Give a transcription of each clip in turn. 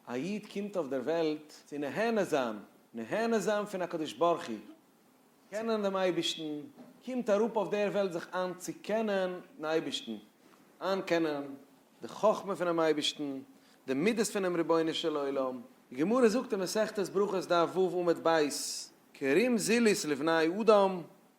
א איד קומט אויף דער וועלט צו נהנה זיין, נהנה זיין פון הקדוש ברוך הוא, קענען דעם אייבערשטן, קומט אראפ אויף דער וועלט זיך איין צו קענען דעם אייבערשטן, איין קענען די חכמה פונעם אייבערשטן, די מידות פונעם רבונו של עולם. די גמרא זאגט אין מסכת ברכות דף ו' עמוד ב', כרים זיליס לבני אדם,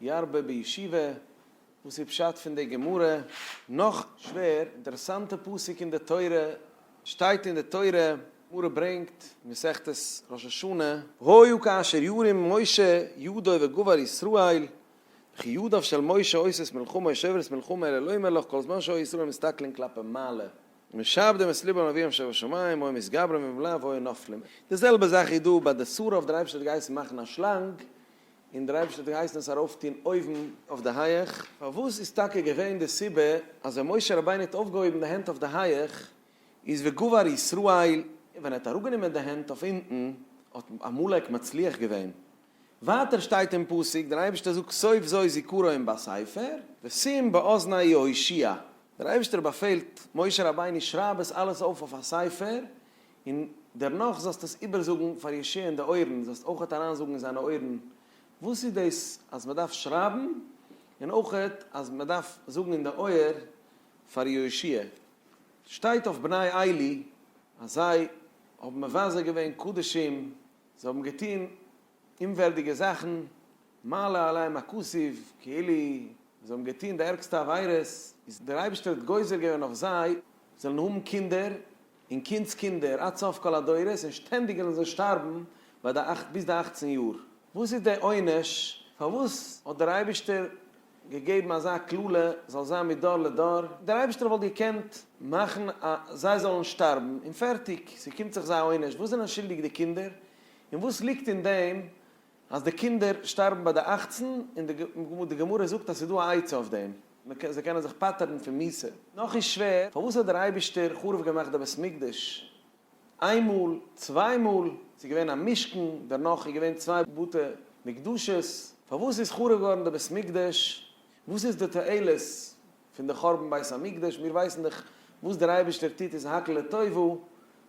ירבה בישיבה, וואס איז פשט פון די גמרא? נאך שווער, אינטערעסאנטע פסוק אין די תורה, שטייט אין די תורה, גמרא ברענגט, מסכת ראש השנה. והיו כאשר ירים משה ידו וגבר ישראל, וכי ידיו של משה עושות מלחמה או שוברת מלחמה אלא לא יאמר לך כל זמן שהיו ישראל מסתכלין כלפי מעלה, ומשעבדים את לבם לאביהם שבשמים, היו מתגברים במלוה והיו נופלים. די זעלבע זאך איז דא ביי די סורה אויף דער אייבערשטער האט געהייסן מאכן א שלאנג, און דער אייבערשטער האט געהייסן עס ארויפטון אויבן אויף די הייעך. פארוואס איז טאקע געווען די סיבה אז ווען משה רבינו האט אויפגעהויבן די הענט אויף די הייעך איז וגבר ישראל, און ווען ער האט אראפגענומען די הענט אויף אונטן האט עמלק מצליח געווען? ווייטער שטייט אין פסוק, דער אייבערשטער זאגט סוף זו זכרו אין בא ספר, ושים באזני יהושע, דער אייבערשטער באפעלט משה רבינו שרייב עס אלעס אויף אויף א ספר, און דערנאך זאלסטו עס איבערזאגן פאר ישעי' אין די אויערן, זאלסט אויכעט אריינזאגן אין זיינע אויערן וואס איז דאס אז מען דארף שרייבן, און אויכעט אז מען דארף זאגן אין די אויער פאר יהושע. שטייט אויף בני עלי אז זיי האבן מבזה געווען קדשים, זיי האבן געטון אומווערדיגע זאכן, מעלה עליהם הכסיף, כאילו זיי האבן געטון די ערגסטע עבירות, איז דער אייבערשטער האט גוזר געווען אויף זיי זאלן האבן קינדער און קינדס קינדער עד סוף כל הדורות, און שטענדיג וועלן זיי שטארבן ביי די אכט ביז די אכצן יאר. וואס איז די עונש? פארוואס האט דער אייבישטער געגעבן אזא קללה זאל זיין מדור לדור? דער אייבישטער וואלט געקענט מאכן אז זיי זאלן שטארבן און פערטיג, ס'קומט זיך זיי א עונש, וואס זענען שולדיג די קינדער? און וואס ליגט אין דעם אז די קינדער שטארבן ביי די אַכצן, און די גמרא זאגט אז ס'איז דא א עצה אויף דעם, זיי קענען זיך פטר'ן פון מיתה, נאך איז שווער, פארוואס האט דער אייבישטער חרוב געמאכט די בית מקדש איינמאל, צוויי מאל, ס'איז געווען א משכן, דערנאך איז געווען צוויי בתי מקדשות, פארוואס איז חרוב געווארן די בית מקדש, וואס איז די תועלת פון די חורבן בית המקדש, מיר ווייסן דאך וואס דער אייבערשטער טוט איז הכל לטובה,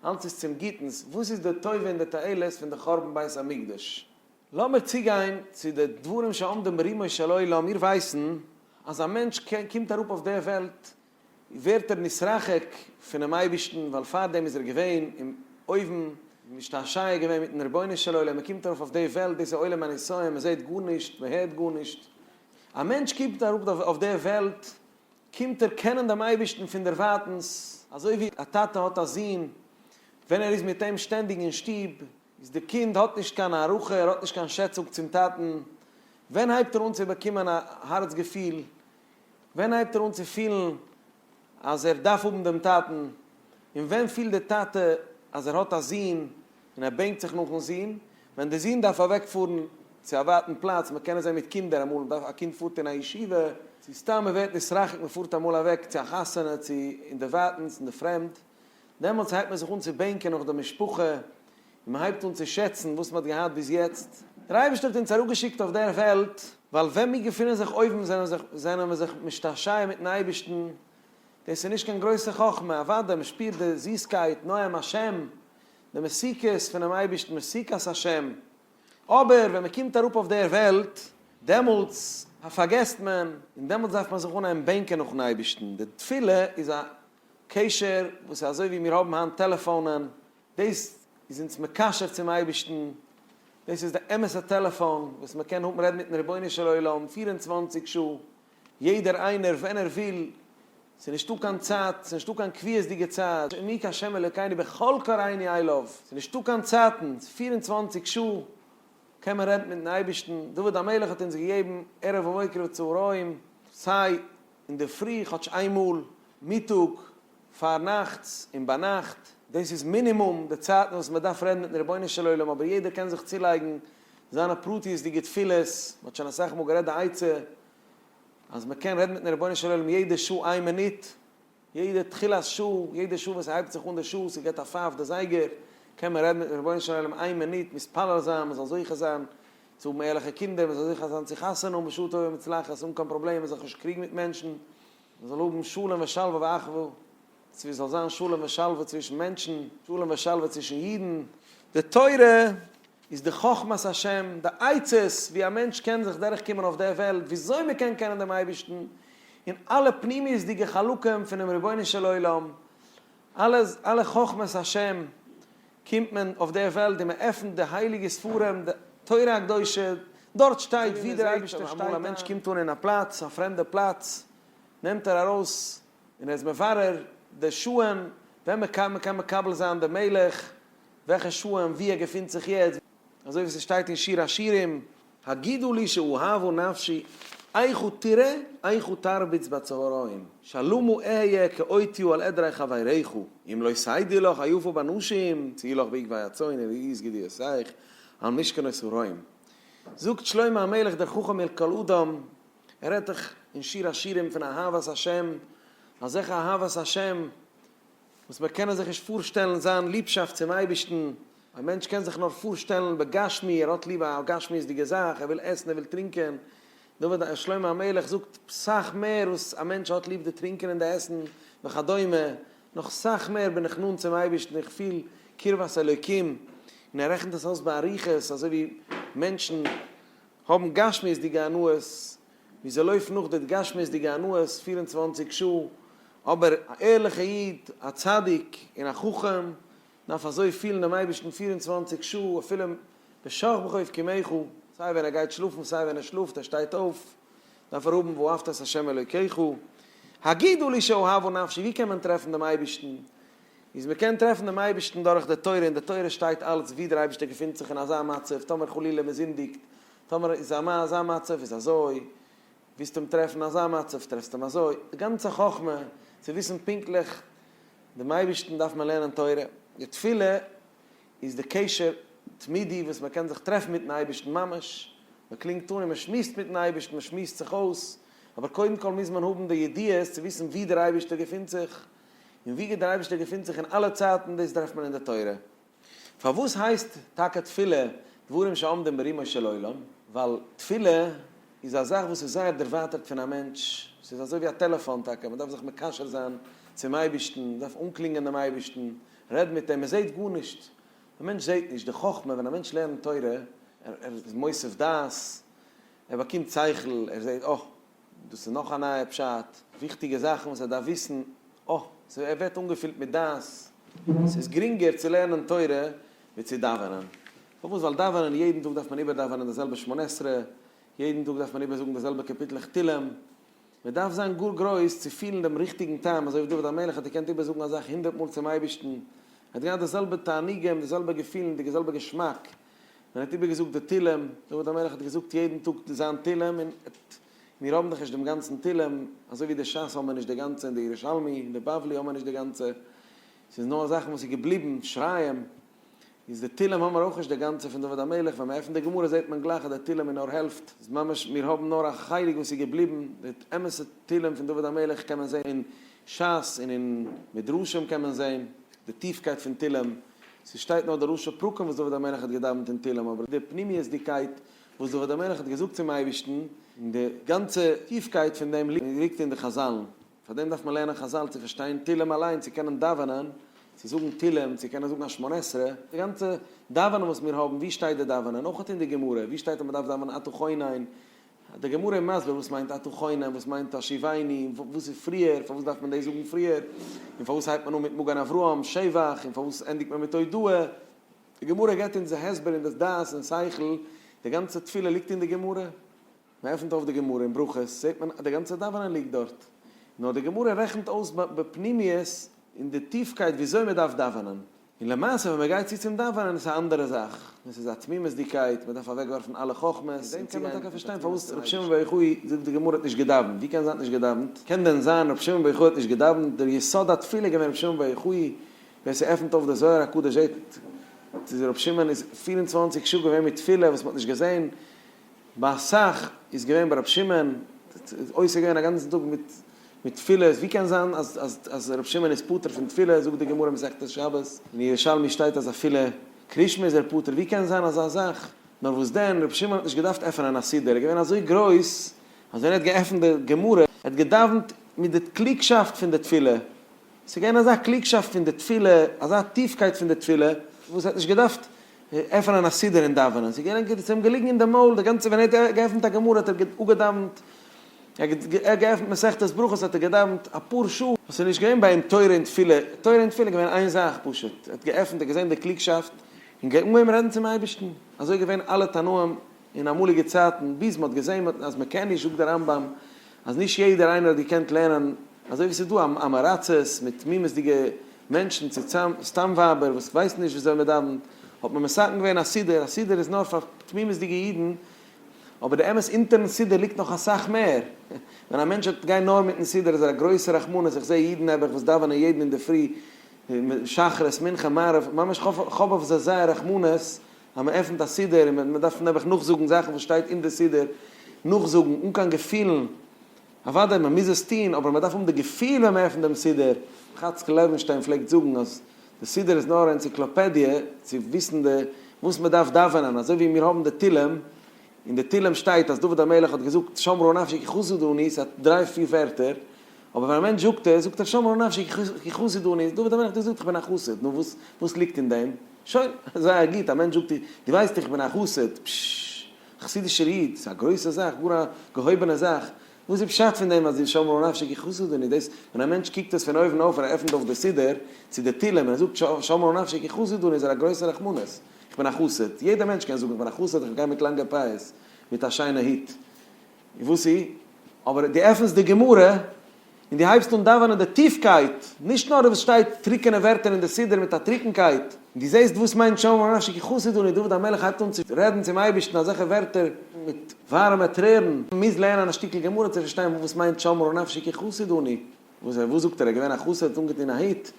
אלץ איז צום גוטנס, וואס איז די טובה און די תועלת פון די חורבן בית המקדש? לאמיר צוגיין צו די דברים שעומדים ברומו של עולם, מיר ווייסן אז א מענטש קומט אראפ אויף די וועלט ווערט ער נתרחק פונעם אייבערשטן, ווייל פארדעם איז ער געווען אין אויבן, משתעשע געווען מיטן רבונו של עולם, מען קומט ארויף אויף די וועלט, דאס איז עולם הניסיון, מען זעט גארנישט, מען הערט גארנישט, א מענטש קוקט אראפ אויף די וועלט, קומט ער קענען דעם אייבערשטן פון דערווייטנס, אזוי ווי א טאטע האט א זון, ווען ער איז מיט אים שטענדיג אין שטוב, איז די קינד האט נישט קיין הערכה, ער האט נישט קיין שעצונג צום טאטן, ווען הייבט ער אן צו באקומען א הארץ געפיל, ווען הייבט ער אן צו פילן, אז ער דארף האבן דעם טאטן, און ווען פילט דער טאטע אז ער האט א זון און ער בענקט זיך נאכן זון, ווען דער זון דארף אוועק פארן צו א ווייטן פלאץ, מען קען עס זען מיט קינדער אמאל, מ'דארף, א קינד פארט אין א ישיבה, צו סתם מען ווערט נתרחק, מען פארט אמאל אוועק צו א חתונה, צו אינדערווייטנס, אין די פרעמד, דעמאלטס הייבט מען זיך אן צו בענקען נאך די משפחה, און מען הייבט אן צו שעצן וואס מען האט געהאט ביז יעצט. דער אייבערשטער האט אונז אראפגעשיקט אויף דער וועלט, ווייל ווען מיר געפינען זיך אויבן זענען מיר זיך משתעשע מיט'ן אייבערשטן, דאס איז נישט קיין גרויסע חכמה, אוודאי מען שפירט די זיסקייט, נועם השם, די מתיקות פונעם אייבערשטן, מתיקת השם, אבער ווען מען קומט אראפ אויף דער וועלט, דעמאלטס פארגעסט מען, און דעמאלטס דארף מען זיך אנהייבן בענקען נאכ'ן אייבערשטן. די תפילה איז א קשר וואס איז אזוי ווי מיר האבן היינט טעלעפאונען, דאס איז אונז מקשר צום אייבערשטן, דאס איז די אמת'ע טעלעפאן וואס מען קען האבן רעדן מיטן רבונו של עולם פֿיר און צוואַנציק שעה, יעדער איינער ווען ער וויל, ס'איז נישטא קיין צייט, ס'איז נישטא קיין קביעות'דיגע צייט, מי כהשם אלקינו בכל קראיני איי לאוו, ס'איז נישטא קיין צייטן, פֿיר און צוואַנציק שעה קען מען רעדן מיטן אייבערשטן, דוד המלך האט אונז געגעבן ערב ומוקר וצהריים, סיי. אינדערפרי כאטש איין מאל, מיטאג, פארנאכטס און ביינאכט, דאס איז מינימום די צייטן וואס מען דארף רעדן מיטן רבונו של עולם, אבער יעדער קען זיך צולייגן זיינע פרטיות'דיגע תפילות, מען האט שוין אסאך מאל גערעדט די עצה אז מען קען רעדן מיטן רבונו של עולם יעדע שעה איין מינוט, יעדע תחילת שעה, יעדע שעה ווען ס'הייבט זיך אן די שעה, ס'געט א פייף די זייגער, קען מען רעדן מיטן רבונו של עולם איין מינוט, מתפלל זיין מען זאל זוכה זיין צו האבן ערליכע קינדער, מען זאל זיכער זיין צו חתונה האבן בשעה טובה ומוצלחת, האבן קיין פראבלעמען, מען זאל זיך נישט קריגן מיט מענטשן, מען זאל האבן שלום ושלווה ואחווה, צו עס זאל זיין שלום ושלווה צווישן מענטשן, שלום ושלווה צווישן אידן. די תורה איז די חכמת השם, די עצות ווי א מענטש קען זיך דורך קומען אויף דער וועלט, ווי אזוי מען קען קענען דעם אייבערשטן, און אלע פנימיות'דיגע חלקים פונעם רבונו של עולם, אלע חכמת השם. קומט מען אויף דער וועלט און מען עפנט די הייליגע ספרים, די תורה הקדושה, דארט שטייט ווי דער אייבערשטער שטייט. אמאל א מענטש קומט אן אין א פלאץ, א פרעמדע פלאץ, נעמט ער ארויס און ער איז מברר די שעה'ן ווען מען קען מען מקבל זיין דעם מלך, וועלכע שעה'ן וואו ער געפינט זיך יעצט, אזוי ווי ס'שטייט אין שיר השירים. הגידו לי שאהבו נפשי איך ותראה איך ותרביץ בצהריים שלומו אהיה כאותיו על עדרי חבריך אם לא סיידי לך היופו באנשים צי לך בעקבי הצאן און איז גדיעות איך על משכנות הרעים זאגט שלמה המלך דער חכם מעל כל אדם ער רעדט דאך אין שיר השירים פון אהבת השם אזעלכע אהבת השם וואס מיר קענען זיך נישט פארשטעלן זיין ליבשאפט צום אייבערשטן, א מענטש קען זיך נאר פארשטעלן בגשמי, ער האט ליב א גשמיות'דיגע זאך, ער וויל עסן, ער וויל טרינקען, דוד שלמה המלך זאגט סאך מער וואס א מענטש האט ליב די טרינקען און די עסן וכדומה, נאך סאך מער בין איך נאנט צום אייבערשטן, איך פיל קרבת אלוקים, און ער רעכנט עס אויס באריכות, אזוי ווי מענטשן האבן גשמיות'דיגע הנאות, ווי זיי לויפן נאך די התגשמות'דיגע הנאות פֿיר און צוואַנציק שעה, אבער א ערליכע איד, א צדיק און א חכם דארף אזוי פילן דעם אייבערשטן פֿיר און צוואַנציק שעה, אפילו בשכ ב חוב קומך, סיי ווען ער גייט שלאפן סיי ווען ער שלאפט, ער שטייט אויף, דארף ער האבן ואהבת את ה' אלוקיך, הגידו לי שאהבו נפשי, ווי קען מען טרעפן דעם אייבערשטן? איז מען קען טרעפן דעם אייבערשטן דורך די תורה, אין די תורה שטייט אלץ ווי דער אייבערשטער געפינט זיך אין אזא מצב, טאמער חלילה מען זינדיגט, טאמער איז א מאן אזא מצב איז אזוי, ווילסט אים טרעפן אזא מצב טרעפסט אים אזוי, די גאנצע חכמה צו וויסן פונקטליך דעם אייבערשטן דארף מען לערנען תורה, די תפילה איז די קשר תמידי וואס מען קען זיך טרעפן מיטן אייבערשטן ממש, מען קלינגט אן און מען שמועסט מיטן אייבערשטן מען שמועסט זיך אויס, אבער קודם כל מוז מען האבן די ידיעות צו וויסן וואו דער אייבערשטער געפינט זיך, און וואו דער אייבערשטער געפינט זיך אין אלע צייטן דאס טרעפט מען אין די תורה. פארוואס הייסט טאקע תפילה דברים שעומדים ברומו של עולם? ווייל תפילה איז א זאך וואס איז זייער דערווייטערט פון א מענטש, ס'איז אזוי ווי א טעלעפאן טאקע, מען דארף זיך מקשר זיין צום אייבערשטן, מען דארף אנקלינגען דעם אייבערשטן, רעד מיט אים, מען זעט גארנישט, א מענטש זעט נישט, די חכמה ווען א מענטש לערנט תורה, ער איז מוסיף דעת, ער באקומט שכל, ער זעט, אה. דאס איז נאך א נייע פשט, וויכטיגע זאכן וואס ער דארף וויסן, אה, ס'ווער ער ווערט אנגעפילט מיט דעת, ס'איז גרינגער צו לערנען תורה ווי צו דאווענען, פארוואס? ווייל דאווענען יעדן טאג דארף מען איבערדאווענען די זעלבע שמונה עשרה, יעדן טאג דארף מען איבערזאגן די זעלבע קאפיטלעך תהלים, מען דארף זיין גאר גרויס צו פילן דעם ריכטיגן טעם, אזוי ווי דוד המלך האט געקענט איבערזאגן א זאך הונדערט מאל צום אייבערשטן, ער האט געהאט די זעלבע תענוגים, די זעלבע געפילן, די זעלבע געשמאק. מען האט איבערגעזאגט די תהלים, דוד המלך האט געזאגט יעדן טאג זיין תהלים, און מיר האבן דאך נישט דעם גאנצן תהלים, אזוי ווי די שס האבן מיר נישט די גאנצע און די ירושלמי און די בבלי האבן מיר נישט די גאנצע, ס'איז נאר זאכן וואס איז געבליבן, שריים, איז די תהלים האבן מיר אויך נישט די גאנצע פון דוד המלך, ווען מען עפנט די גמרא זעט מען גלייך אז די תהלים איז נאר העלפט, איז ממש מיר האבן נאר א חלק וואס איז געבליבן, די אמת'ע תהלים פון דוד המלך קען מען זען אין שס און אין מדרשים קען מען זעהן די טיפקייט פון תהלים, ס'שטייט נאר די ראשי פרקים וואס דוד המלך האט געדאווענט אין תהלים, אבער די פנימיות'דיגקייט וואס דוד המלך האט געזאגט צום אייבערשטן, און די גאנצע טיפקייט פון דעם ליגט אין די חזל'ן, פאר דעם דארף מען לערנען חזל צו פארשטיין תהלים אליין, צו קענען דאווענען, צו זאגן תהלים, צו קענען זאגן א שמונה עשרה, די גאנצע דאווענען וואס מיר האבן, וואו שטייט די דאווענען, אויך אין די גמרא, וואו שטייט אז מ'דארף דאווענען אתה חונן, די גמרא איז מסביר וואס מיינט אתה חונם, וואס מיינט השיבני, וואס איז פריער, פארוואס דארף מען דאס זאגן פריער, און פארוואס הייבט מען אן מיט מגן אברהם, שבח, און פארוואס ענדיגט מען מיט הודאה. די גמרא גיבט אונז די הסבר און דאס דעת און שכל, די גאנצע תפילה ליגט אין די גמרא. מען עפנט אויף די גמרא אין ברכות זעט מען אז די גאנצע דאווענען ליגט דארט. נאר די גמרא רעכנט אויס בפנימיות, אין די טיפקייט וויאזוי מען דארף דאווענען. און למעשה ווען מען גייט צו צום דאווענען איז עס א אנדערע זאך, דאס איז א תמימות'דיגקייט, מען דארף אוועקווארפן אלע חכמות, און דעם קען מען טאקע פארשטיין פארוואס ר' שמעון בר יוחאי זאגט די גמרא האט נישט געדאווענט, ווי קען זיין האט נישט געדאווענט, קען דען זיין ר' שמעון בר יוחאי האט נישט געדאווענט, דער יסוד התפילה איז געווען ר' שמעון בר יוחאי, ווער ס'עפנט אויף די זוהר הקדוש זעט אז ר' שמעון איז פֿיר און צוואַנציק שעה געווען מיט תפילה וואס מען האט נישט געזען, ביי אסאך איז געווען ביי ר' שמעון עוסק געווען א גאנצן טאג מיט מיט תפילות, ווי קען זיין אז אז אז ר' שמעון איז פטור פון תפילה, זאגט די גמרא מסכת שבת, אין ירושלמי שטייט אז אפילו קרישמע איז ער פטור, ווי קען זיין אזא זאך, נאר וואס דען ר' שמעון האט נישט געדארפט עפענען א סידור, ער איז געווען אזוי גרויס אז ווען ער האט געעפנט די גמרא, ער האט געדאווענט מיט די קלוגשאפט פון די תפילה, עס איז געווען אזא קלוגשאפט פון די תפילה, אזא טיפקייט פון די תפילה, וואס ער האט נישט געדארפט עפענען א סידור און דאווענען, ס'איז געווען גוט, ס'איז אים געליגן אין די מויל די גאנצע, ווען ער האט געעפנט א גמרא האט ער אפגעדאווענט, ער האט געעפנט מסכת ברכות האט ער געדאווענט אפאר שעה, וואס איז נישט געווען ביי אים תורה און תפילה, תורה און תפילה איז געווען איין זאך פשוט, ער האט געעפנט, ער האט געזען די קלוגשאפט, און געהונגען רעדן צום אייבערשטן, אזוי געווען אלע תנאים אין אמאליגע צייטן, ביז מ'האט געזען אז מ'קען נישט, זאגט דער רמב ם אז נישט יעדער איינער האט געקענט לערנען, אזוי ווי ס'איז דא אמעראצעס מיט תמימות'דיגע. מענטשן צו סתם ווייבער וואס ווייסן נישט וויאזוי מען דאווענט, האט מען מסכם געווען א סידור, א סידור איז נאר פאר תמימות'דיגע אידן, אבער די אמת אונטערן סידור ליגט נאך אסאך מער, ווען א מענטש וועט גיין נאר מיטן סידור איז ער א גרויסע רחמנות, איך זע אידן נעבעך וואס דאווענען יעדן אינדערפרי שחרית מנחה מעריב, ממש כ'האב אויף זיי זייער רחמנות אז מען עפנט א סידור און מען דארף נעבעך נאכזאגן זאכן וואס שטייט אין די סידור, נאכזאגן אן קיין געפילן. אוודאי מען מוז עס טון, אבער מען דארף האבן די געפיל ווען מען עפנט דעם סידור, חאצקל לעווינשטיין פלעגט זאגן אז די סידור איז נאר א ענציקלאפעדיע צו וויסן די וואס מען דארף דאווענען, אזוי ווי מיר האבן די תהילים, אין די תהילים שטייט אז דוד המלך האט געזאגט שמרו נפשי כי חסוד אני, ס'איז א דריי פיר ווערטער, אבער ווען א מענטש זאגט עס, זאגט ער שמרו נפשי כי חסוד אני, דוד המלך האט געזאגט איך בין א חסיד, נו וואס וואס ליגט אין דעם? שוין, זייער גוט, א מענטש זאגט דיר, דו ווייסט איך בין א חסיד, פששש. חסידישער איד, ס'איז א גרויסע זאך, גאר א געהויבענע זאך. וואס איז פשט פון דעם אז די שמור נפשי כי חסדני, דאס ווען א מענטש קוקט עס פון אויבן אויף און ער עפנט אויף די סידור צו די תהלים און ער זאגט שמור נפשי כי חסדני איז ער א גרויסע רחמנות, איך בין א חסיד, יעדע מענטש קען זאגן איך בין א חסיד, איך גיי מיט לאנגע פאות, מיט א שיינע היט. וואס איז? אבער דו עפענסט די גמרא און דו הייבסט אן דאווענען די טיפקייט, נישט נאר וואס שטייט טרוקענע ווערטער אין די סידור מיט א טרוקנקייט, און דו זעסט וואס מיינט שם עמך נפשי כי חסיד אני, דוד המלך הייבט אן צו רעדן צום אייבערשטן אזעלכע ווערטער מיט ווארעמע טרערן, מען מוז לערנען א שטיקל גמרא צו פארשטיין וואס מיינט שמור נפשי כי חסיד אני. וואס זיי וואס זאגט ער איז געווען א חסיד האט אנגעטון א היט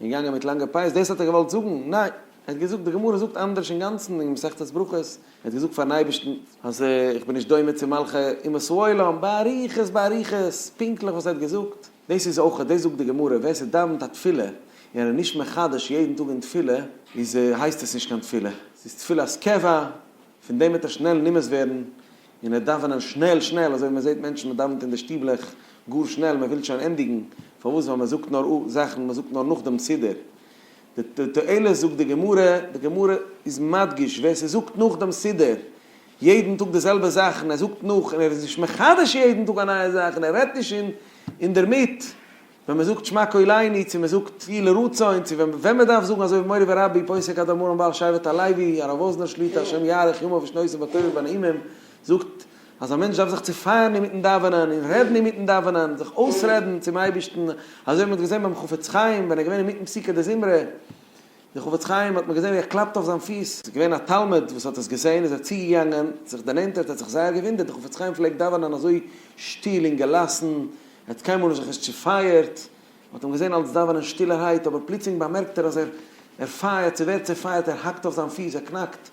און געגאנגען מיט לאנגע פאות דאס האט ער געוואלט זאגן? ניין ער האט געזאגט די גמרא זאגט אנדערש אינגאנצן אין מסכת ברכות ער האט געזאגט פארן אייבערשטן אז איך בין נישט דומה צו מלכי אומות העולם באריכות באריכות פונקטליך וואס ער האט געזאגט דאס איז אויך דאס זאגט די גמרא ווער ס'דאווענט א תפילה און ער איז נישט מחדש יעדן טאג אין תפילה איז הייסט עס נישט קיין תפילה ס'איז תפילת קבע פון דעם וועט ער שנעל נמאס ווערן און ער דאווענען שנעל שנעל, אזוי ווי מען זעט מענטשן מען דאווענט אין די שטיבלעך גאר שנעל מען וויל שוין ענדיגן, פארוואס ווייל מען זאגט נאר או זאכן מען זאגט נאר נאך דעם סידור, די תועלת זאגט די גמרא, די גמרא איז מדגיש ווער ס'זאגט נאך דעם סידור יעדן טאג די זעלבע זאך און ער זאגט נאך און ער איז נישט מחדש יעדן טאג א נייע זאך און ער רעדט נישט אינדערמיט, ווען מען זאגט שמע קול עיני, צו מען זאגט יהי לרצון, צו ווען מען דארף זאגן אזוי ווי מורי ורבי פוסק אדמו ר מבעל שבט הלוי הרב וואזנער שליט א השם יאריך ימיו ושנותיו בטובים ונעימים, זאגט אז א מענטש דארף זיך צופייערן אינמיטן דאווענען און רעדן אינמיטן דאווענען, זיך אויסרעדן צום אייבערשטן, אזוי ווי מען האט געזען ביים חפץ חיים ווען ער איז געווען אינמיטן פסוקי דזמרה, דער חפץ חיים האט מיר געזען ווי ער קלאפט אויף זיין פיס, עס איז געווען א תלמיד וואס האט עס געזען, איז ער צוגעגאנגען, זיך דערנענטערט, ער האט זיך זייער געוואונדערט, דער חפץ חיים פלעגט דאווענען אזוי שטיל און געלאסן, ער האט קיינמאל נישט זיך עס צופייערט, מען האט אים געזען אלץ דאווענען שטילערהייט, אבער פלוצלינג באמערקט ער אז ער ער פייערט, ס'ווערט צופייערט, ער האקט אויף זיין פיס, ער קנאקט,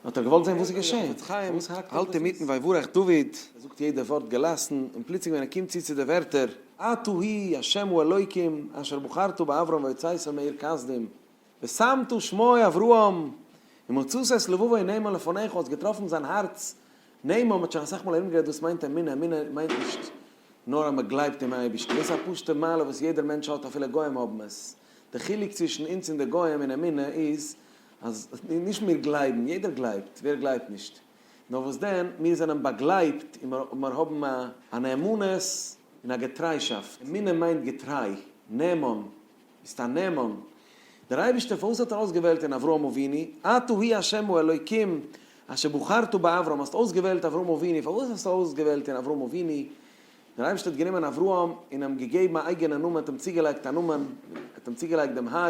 האט ער געוואלט זען וואס איז געשען, פארוואס האלט ער מיטן ויברך דוד, ער זאגט יעדע ווארט געלאסן, און פלוצלינג ווען ער קומט צו צו די ווערטער, אתה ה' השם הוא אלוקים אשר בחרת באברהם ויצאתו מעיר כסדים ושמת שמו אברהם ומצאת את לבבו נאמן לפניך, האט געטראפן זיין הארץ נאמן, מ'האט שוין אסאך מאל ארום גערעדט וואס מיינט אמונה, אמונה מיינט נישט נאר אז מ'גלייבט אין אייבערשטן, דאס איז א פשוטע מעלה וואס יעדער מענטש האט אפילו גוים האבן עס, די חילוק צווישן אונז און די גוים אין אמונה איז אז נישט מיר גלייבן, יעדער גלייבט, ווער גלייבט נישט? נאר וואס דען, מיר זענען באגלייבט און מיר האבן א נאמנות און א געטריישאפט. אמונה מיינט געטריי, נאמן, ביסט א נאמן. דער אייבערשטער, פארוואס האט ער אויסגעוועלט אין אברהם אבינו? אתה הוא ה' האלוקים אשר בחרת באברהם, האסט אויסגעוועלט אברהם אבינו, פארוואס האסטו אויסגעוועלט אין אברהם אבינו? דער אייבערשטער האט גענומען אברהם און אים געגעבן א אייגענע נאמען, האט אים צוגעלייגט א נאמען, האט אים צוגעלייגט דעם ה'.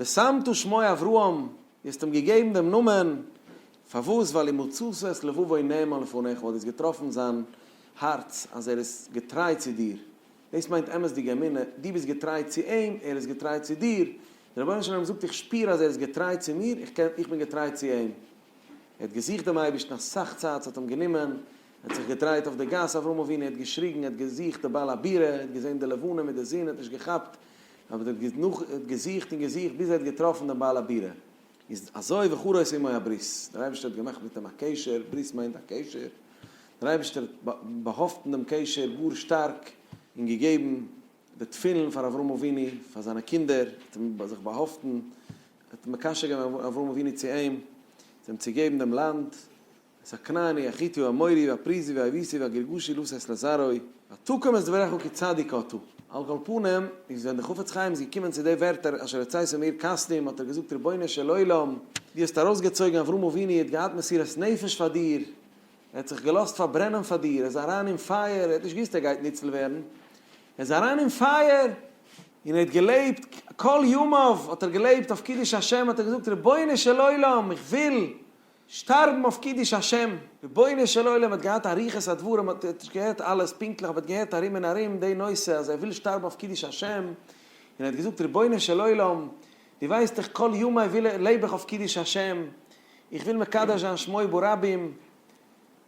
ושמתו שמו אברהם, דו האסט אים געגעבן דעם נאמען, פארוואס? ווייל אם מצאת את לבבו נאמן לפניך, ווייל דו האסט געטראפן זיין הארץ אז ער איז געטריי צו דיר, דאס מיינט אמת'דיגע אמונה, דו ביסט געטריי צו אים, ער איז געטריי צו דיר, דער רבונו של עולם זאגט איך שפיר אז ער איז געטריי צו מיר, איך קען, איך בין געטריי צו אים. ער האט געזוכט דעם אייבערשטן אסאך צייט, ס'האט אים גענומען, ער האט זיך געדרייט אויף די גאס אברהם אבינו, ער האט געשריגן, ער האט געזוכט די בעל הבירה, ער האט געזען די לבנה מיט די זון, ער האט נישט געכאפט, אבער דער האט נאך געזוכט און געזוכט ביז ער האט געטראפן דעם בעל הבירה, איז אזוי וכרות עמו הברית, דער אייבערשטער האט געמאכט מיט אים א קשר, ברית מיינט א קשר, דער אייבערשטער האט באהאפטן דעם קשר גאר שטארק און געגעבן די תפילין פאר אברהם אבינו פאר זיינע קינדער, האט אים זיך באהאפטן, האט מקשר געווען אברהם אבינו צו אים, זיי האבן צו געבן דעם לאנד. סקרני, אחיתו, אמורי, ואפריזי, ואייביסי, ואגריגושי, לא שש לזרעו, ותקום את דבריך כצדיק אתה. על כל פנים, איז ווען דער חפץ חיים איז געקומען צו די ווערטער אשר עצתיך מאיר קסמים, האט ער געזאגט רבונו של עולם, דו האסט ארויסגעצויגן אברהם אבינו, ער האט געהאט מסירת נפש פאר דיר, ער האט זיך געלאזט פארברענען פאר דיר, ער איז אריין אין פייער, ער האט נישט געוואוסט ער גייט ניצל ווערן, ער איז אריין אין פייער, און ער האט געלעבט, כל ימיו האט ער געלעבט אויף קידוש השם, האט ער געזאגט רבונו של עולם, איך וויל. שטארבן אויף קידוש השם, רבונו של עולם האט געהאט אריכות הדברים האט נישט געהערט אלעס פונקטליך אבער האט געהערט ארום און ארום די נושא אז ער וויל שטארבן אויף קידוש השם און האט געזאגט רבונו של עולם דו ווייסט איך כל ימיי וויל לעב איך אויף קידוש השם איך וויל מקדש זיין שמו ברבים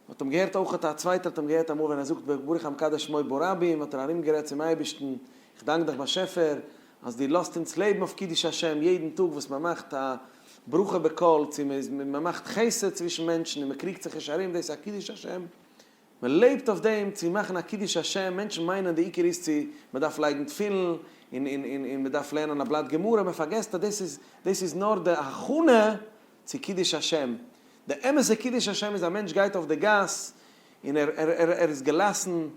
מ'האט אים געהערט אויך, א צווייטער האט אים געהערט אמאל ווען ער זאגט ברוך המקדש שמו ברבים, האט ער ארומגערעדט צום אייבערשטן, איך דאנק דיך באשעפער אז דו לאזט אונז לעבן אויף קידוש השם, יעדן טאג וואס מען מאכט א ברכה בקול, צו מען מאכט חסד צווישן מענטשן און מען קריגט זיך נישט ארום, דאס איז א קידוש השם, מען לעבט אויף דעם, צו מאכן א קידוש השם, מענטשן מיינען די עיקר איז צו מען דארף לייגן תפילין און מען דארף לערנען א בלאט גמרא, מען פארגעסט אז דאס איז נאר די הכנה, צו קידוש השם, די אמת'ע קידוש השם איז א מענטש גייט אויף די גאס און ער ער ער איז געלאסן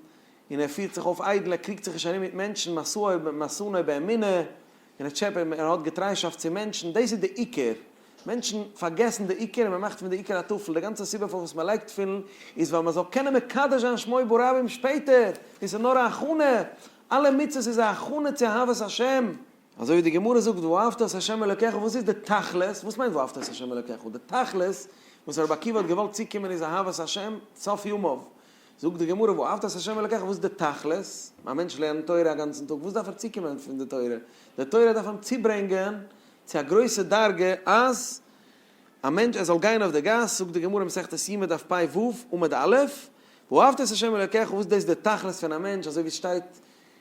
און ער פירט זיך אויף איידל, ער קריגט זיך נישט ארום מיט מענטשן, משאו משנאו באמונה, און ער טשעפ ער האט געטריישאפט צו מענטשן, דאס איז די עיקר, מענטשן פארגעסן די עיקר און מען מאכט פון די עיקר א טפל, די גאנצע סיבה פארוואס מען לייגט תפילין איז ווייל מען זאל קענען מקדש זיין שמו ברבים שפעטער, דאס איז נאר א הכנה, אלע מצוות איז א הכנה צו אהבת השם. אזוי ווי די גמרא זאגט ואהבת את ה' אלוקיך וואס איז די תכלית, וואס מיינט ואהבת את ה' אלוקיך, די תכלית וואס רבי עקיבא האט געוואלט צוקומען איז אהבת השם סוף ימיו, זאגט די גמרא ואהבת את ה' אלוקיך וואס איז די תכלית, א מענטש לערנט תורה א גאנצן טאג וואס דארף ער צוקומען פון די תורה, די תורה דארף אים צוברענגען צו א גרויסע דרגה אז א מענטש ער זאל גיין אויף די גאס, זאגט די גמרא אין מסכת יומא דף פ ו עמוד א' ואהבת את ה' אלוקיך וואס דאס איז די תכלית פון א מענטש אזוי ווי עס שטייט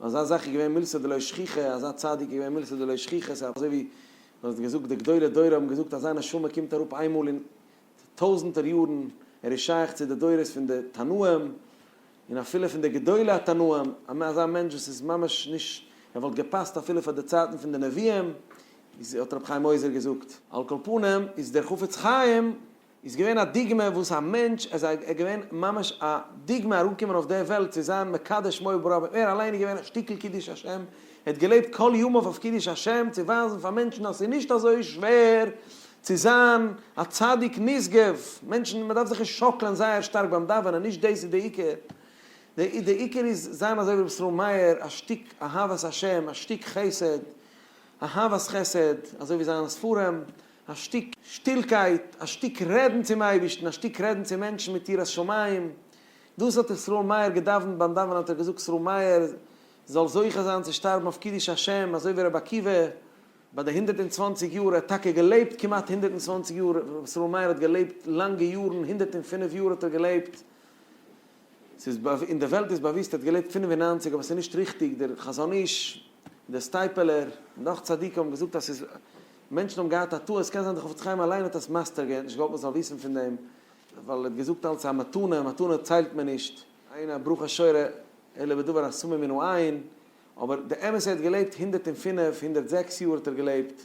אזא זאך איז געווען מילתא דלא שכיחא, אזא צדיק איז געווען מילתא דלא שכיחא, ס'איז אזוי ווי מען האט געזאגט די גדולי דור האבן געזאגט אזא נשמה קומט אראפ איינמאל אין טויזענטער יארן, ער איז שייך צו די דורות פון די תנאים, און אפילו פון די גדולי התנאים, אזא מענטש וואס איז ממש נישט, ער וואלט געפאסט אפילו פאר די צייטן פון די נביאים, איז האט רבי חיים עוזר געזאגט. על כל פנים איז דער חפץ חיים איז געווען א דוגמא וואס א מענטש ער זיי ער געווען ממש א דוגמא אראפ קומען אויף די וועלט צו זיין מקדש שמו וברוב ער אליין איז געווען א שטיקל קידוש השם ער האט געלעבט כל ימיו אויף קידוש השם צו ווייזן פאר מענטשן אז ס'איז נישט אזוי שווער צו זיין א צדיק נשגב מענטשן מ'דארף זיך נישט שאקלען זייער שטארק ביים דאווענען נישט דאס איז די עיקר די די עיקר איז זיין אזוי ווי ר' ישראל מאיר א שטיק אהבת השם א שטיק חסד אהבת חסד אזוי ווי זיינע ספרים א שטיק שטילקייט, א שטיק רעדן צום אייבערשטן, א שטיק רעדן צו מענטשן מיט יראת שמים, דאס האט ישראל מאיר געדאווענט, ביים דאווענען האט ער געזאגט ישראל מאיר זאל זוכה זיין צו שטארבן אויף קידוש השם, אזוי ווי רבי עקיבא ביי די הונדערט און צוואנציג יאר, ער האט טאקע געלעבט כמעט הונדערט און צוואנציג יאר, רבי ישראל מאיר האט געלעבט לאנגע יארן, הונדערט און פינף יאר האט ער געלעבט, ס'איז אין די וועלט איז באוויסט ער האט געלעבט פינף און נײַנציק אבער ס'איז נישט ריכטיג, דער חזון איש, דער סטייפלער, און נאך צדיקים האבן געזאגט אז ס'איז. מענטשן האבן געהאט א טעות, קען זיין דער חפץ חיים אליין האט עס מסתר געווען, נישט געוואלט מען זאל וויסן פון דעם, ווייל ער האט געזאגט אלץ א מתנה, מתנה ציילט מען נישט, עיין א ברוך השורה אלא בדבר הסמוי מנו עין, אבער די אמת ער האט געלעבט הונדערט און פֿינף, הונדערט זעקס יאר האט ער געלעבט,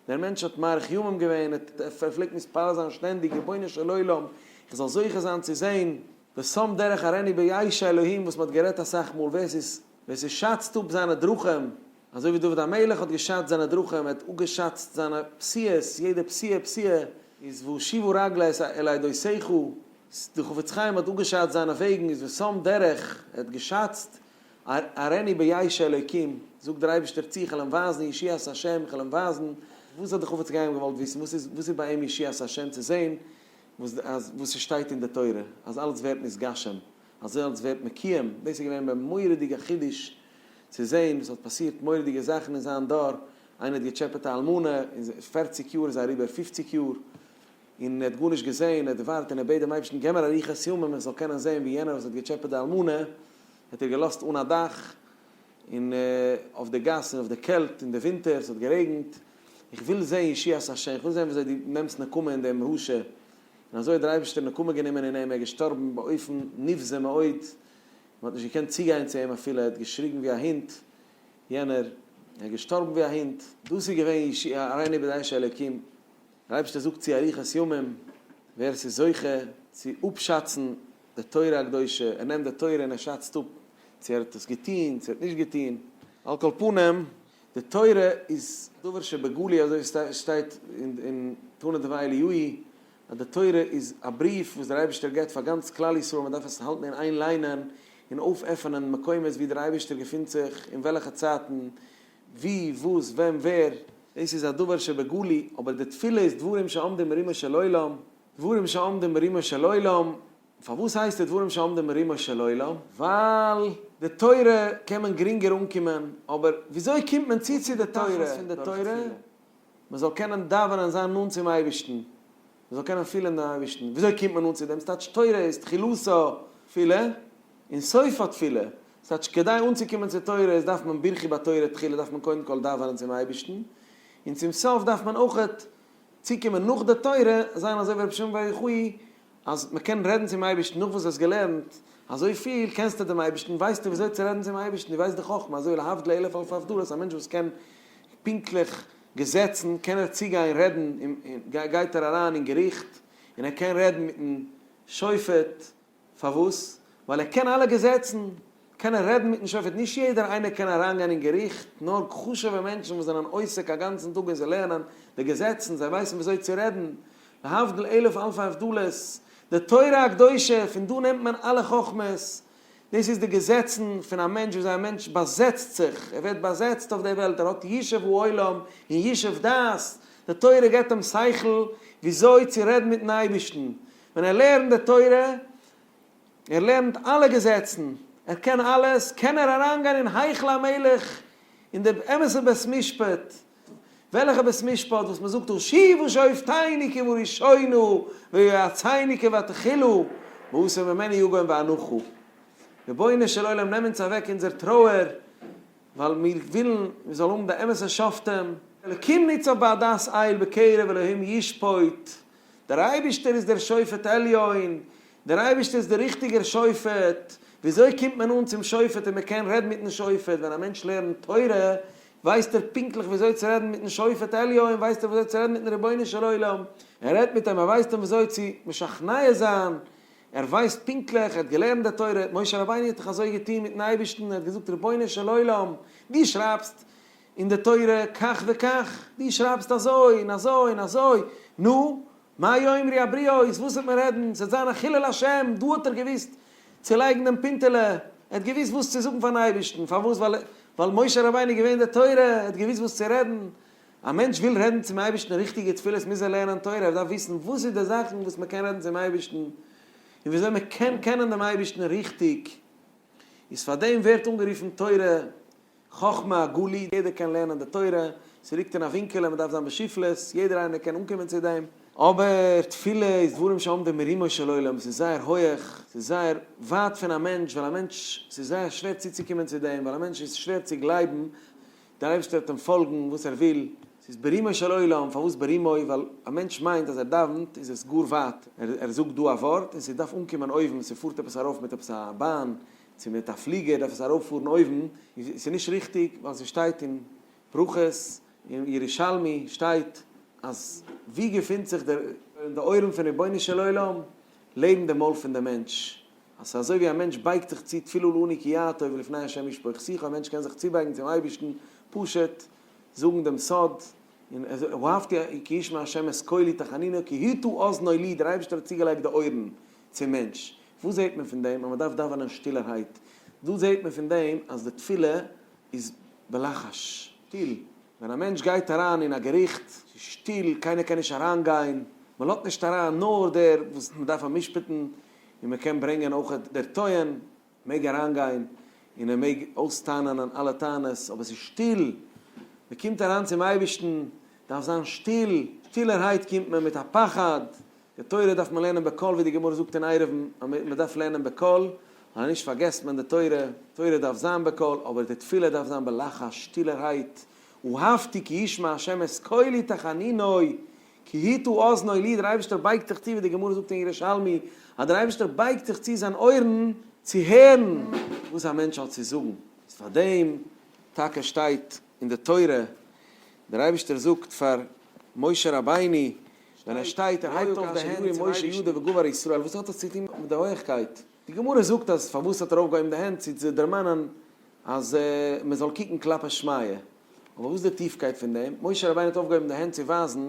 דער מענטש האט מאריך ימים געווען, ער פלעגט מתפלל זיין שטענדיג רבונו של עולם איך זאל זוכה זיין צו זען, ושם דרך ערני ביי ש אלהים וואס מען האט גערעדט אסאך מאל ווער עס איז. ווער ס'שאצט אפ זיינע דרכים, אזוי ווי דוד המלך האט געשאצט זיינע דרכים, ער האט אפגעשאצט זיינע פסיעות, יעדע פסיעה פסיעה איז והושיבו רגלי את אל עדי שיחו, דער חפץ חיים האט אפגעשאצט זיינע וועגן איז ושם דרך, ער האט געשאצט, אראני ביעיש האלוקים, זאגט דער אייבערשטער צו, כ'על אים ווייזן ישועת השם, כ'על אים ווייזן, וואס האט דער חפץ חיים געוואלט וויסן, וואס איז וואס איז ביי אים ישועת השם צו זען, וואס אז וואס ס'שטייט אין די תורה, אז אלץ ווערט נתגשם. אזעלכס ווערט מקיום, דאס איז געווען א מורא'דיגע חידוש צו זעהן וואס האט פאסירט מורא'דיגע זאכן אין זיין דור, איינער האט געטשעפעט א אלמנה אין פֿערציק יאר איז אריבער פֿופֿציק יאר און ער האט גארנישט געזעהן, ער האט געווארט און ער בעט דעם אייבערשטן געב מיר אריכת ימים איך זאל קענען זעהן ווי יענער וואס האט געטשעפעט די אלמנה האט ער געלאזט אן א דאך און אויף די גאס און אויף די קעלט און די ווינטער ס'האט גערעגנט איך וויל זעהן ישועת השם איך וויל זעהן וויאזוי דו נעמסט נקמה אין דעם רשע. און אזוי האט דער אייבערשטער נקמה גענומען אין אים, ער איז געשטארבן באופן נבזה מאוד, מען האט נישט געקענט צוגיין צו אים אפילו, ער האט געשריגן ווי א הונט, יענער ער איז געשטארבן ווי א הונט. דאס איז געווען ישי' אריין איבער די אנשי אלוקים, דער אייבערשטער זאגט צו אריכות ימים, ווער עס איז זוכה צו אפשאצן די תורה הקדושה, ער נעמט די תורה און ער שאצט אפ צו ער האט עס געטון צו ער האט נישט געטון, על כל פנים, די תורה איז דבר שבגלוי אזוי שטייט אין תנא דבי אליהואי אז די תורה איז א בריוו וואס דער אייבערשטער געבט פאר גאנץ כלל ישראל מען דארף עס האלטן אין איין ליינען און אויפעפענען מקומות ווי דער אייבערשטער געפינט זיך אין וועלכע צייטן ווי וואס ווען ווער דאס איז א דבר שבגלוי אבער די תפילה איז דברים שעומדים ברומו של עולם דברים שעומדים ברומו של עולם פארוואס הייסט עס דברים שעומדים ברומו של עולם? ווייל די תורה קען מען גרינגער אנקומען, אבער וויאזוי קומט מען צו צו די תורה? דורך תכלית פון די תורה? מען זאל קענען דאווענען, זיין נאנט צום אייבערשטן, מען זאל קענען פילען דעם אייבערשטן, וויאזוי קומט מען נאנט צו דעם? ס'טייטש תורה איז תחילתו תפילה, און סופו תפילה, ס'טייטש כדי אנצוקומען צו תורה איז דארף מען ברכי בתורה תחילה דארף מען קודם כל דאווענען צום אייבערשטן, און צום סוף דארף מען אויכעט צוקומען נאך די תורה, זיין אזוי ווי רבי שמעון בר יוחאי אז מען קען רעדן צום אייבערשטן נאך וואס דו האסט געלערנט אזוי פיל, קענסטו דעם אייבערשטן, ווייסטו ווי אזוי צו רעדן צום אייבערשטן, דו ווייסט די חכמה, אזוי להבדל אלף אלפי הבדלות, א מענטש וואס קען פונקטליך געזעצן, קען ער צוגיין רעדן, גייט ער אריין אין געריכט, און ער קען רעדן מיטן שופט, פארוואס? ווייל ער קען אלע געזעצן, קענען רעדן מיטן שופט, נישט יעדער איינער קען אריינגיין אין געריכט, נאר חשוב'ע מענטשן וואס זענען עוסק א גאנצן טאג און זיי לערנען די געזעצן, זיי ווייסן וויאזוי צו רעדן, להבדיל אלף אלפי הבדלות, די תורה הקדושה, פון דא נעמט מען אלע חכמות, דאס איז די געזעצן פון א מענטש וויאזוי א מענטש באזעצט זיך, ער ווערט באזעצט אויף די וועלט, ער האט ישוב העולם און ישוב דעת, די תורה געבט אים שכל וויאזוי צו רעדן מיטן אייבערשטן, ווען ער לערנט די תורה, ער לערנט אלע געזעצן, ער קען אלעס, קען ער אריינגיין אין היכל המלך, אין די אמת'ע בית משפט, וועלכע בית משפט וואס מען זאגט הושיבו שופטינו כבראשונה ויועצינו כבתחילו, מאסר ממני יגון ואנחה. רבונו של עולם נעם אונז אוועק אונזער טרויער, ווייל מיר ווילן מען זאל האבן די אמת'ע שופטים. אלוקים ניצב בעדת איל בקרב אלוהים ישפוט. דער אייבערשטער איז דער שופט עליון, דער אייבערשטער איז דער ריכטיגער שופט, וויאזוי קומט מען אן צום שופט און מען קען רעדן מיטן שופט, ווען א מענטש לערנט תורה ווייסט ער פונקטליך וויאזוי צו רעדן מיטן שופט עליון, ווייסט ער וויאזוי צו רעדן מיטן רבונו של עולם, ער רעדט מיט אים, ער ווייזט אים וויאזוי צו משכנע זיין, ער ווייסט פונקטליך, ער האט געלערנט די תורה, משה רבינו האט דאך אזוי געטון מיטן אייבערשטן, ער האט געזאגט, רבונו של עולם, דו שרייבסט, אין די תורה כך וכך, דו שרייבסט אזוי און אזוי און אזוי, נו, מה יאמרי הבריות, וואס וועט מען רעדן, ס'וועט זיין א חילול השם, דא האט ער געוואוסט צו לייגן דעם פינטעלע, ער האט געוואוסט וואס צו זאגן פארן אייבערשטן, פארוואס, ווייל ווייל משה רבינו איז געווען די תורה, ער האט געוואוסט וואס צו רעדן, א מענטש וויל רעדן צום אייבערשטן ריכטיגע תפילות מוז ער לערנען תורה, ער דארף וויסן וואס איז די זאכן וואס מען קען רעדן צום אייבערשטן, און וויאזוי מען קען קענען דעם אייבערשטן ריכטיג, איז פאר דעם ווערט אנגערופן תורה, חכמה הגלי, יעדער קען לערנען די תורה, ס'ליגט אין א ווינקעלע, מ'דארף זיין בשפלות, יעדער איינער קען אנקומען צו דעם, אבער תפילה איז דברים שעומדים מרומו של עולם, ס'איז זייער הויעך, ס'איז זייער ווייט פון א מענטש, ווייל א מענטש, ס'איז זייער שווער צוצוקומען צו דעם, ווייל א מענטש איז שווער צו גלייבן, דער אייבערשטער וועט אים פאלגן וואס ער וויל, ס'איז ברומו של עולם, פארוואס ברומו? ווייל א מענטש מיינט אז ער דאווענט איז עס גאר ווייט, ער זאגט דא א ווארט און ס'דארף אנקומען אויבן, ס'פארט עפעס ארויף מיט עפעס א באן, צו מיט א פליגער דארף עס ארויפפארן אויבן, און ס'איז נישט ריכטיג ווייל ס'שטייט אין ברכות און ירושלמי שטייט אז ווי געפינט זיך דער אין די אויערן פון רבונו של עולם לעבן די מויל פון די מענטש, אז ס'איז אזוי ווי א מענטש בייגט זיך צו תפילה לעני כי יאה טוב ולפני ה' ישפוך שיחו, א מענטש קען זיך צובייגן צום אייבערשטן פשוט זאגן דעם סוד, און אהבתי כי ישמע ה' את קולי תחנוני כי הטו אזני לי דער אייבערשטער האט צוגעלייגט די אויערן צום מענטש. וואס זעט מען פון דעם אז מען דארף דאווענען שטילערהייט? דא זעט מען פון דעם אז די תפילה איז בלחש, שטיל. ווען א מענטש גייט אריין אין א געריכט, ס'איז שטיל, קיינער קען נישט אריינגיין, מען לאזט נישט אריין, נאר דער וואס מען דארף אמשפט'ן, און מען קען ברענגען אויך דער טוען. מעג אריינגיין און ער מעג אויס'טענה'נען אלע טענות, אבער עס איז שטיל, מען קומט אריין צום אייבערשטן, דארף זיין שטיל, שטילערהייט קומט מען מיט א פחד, די תורה דארף מען לערנען בקול ווי די גמרא זאגט אין עירובין אז מען דארף לערנען בקול, ווייל אנישט פארגעסט מען די תורה, תורה דארף זיין בקול, אבער די תפילה דארף זיין בלחש, שטילערהייט, אהבתי כי ישמע ה' את קולי תחנינוי, כי היתה אזני לי, דער אייבערשטער בייגט זיך צו, ווי די גמרא זאגט אין ירושלמי, אז דער אייבערשטער בייגט זיך צו זיין אויערן צו הערן וואס א מענטש האט צו זאגן, איז פאר דעם טאקע שטייט אין די תורה, דער אייבערשטער זאגט פאר משה רבינו ווען ער שטייט, ער הייבט אויף די הענט צום אייבערשטן. וואס האט עס צו טון מיט די הויעכקייט? די גמרא זאגט אז פארוואס האט ער אויפגעהויבן די הענט, צו צו דערמאנען אז מען זאל קוקן כלפי שמיא, אבער וואס איז די טיפקייט פון דעם? משה רבינו האט אויפגעהויבן די הענט צו ווייזן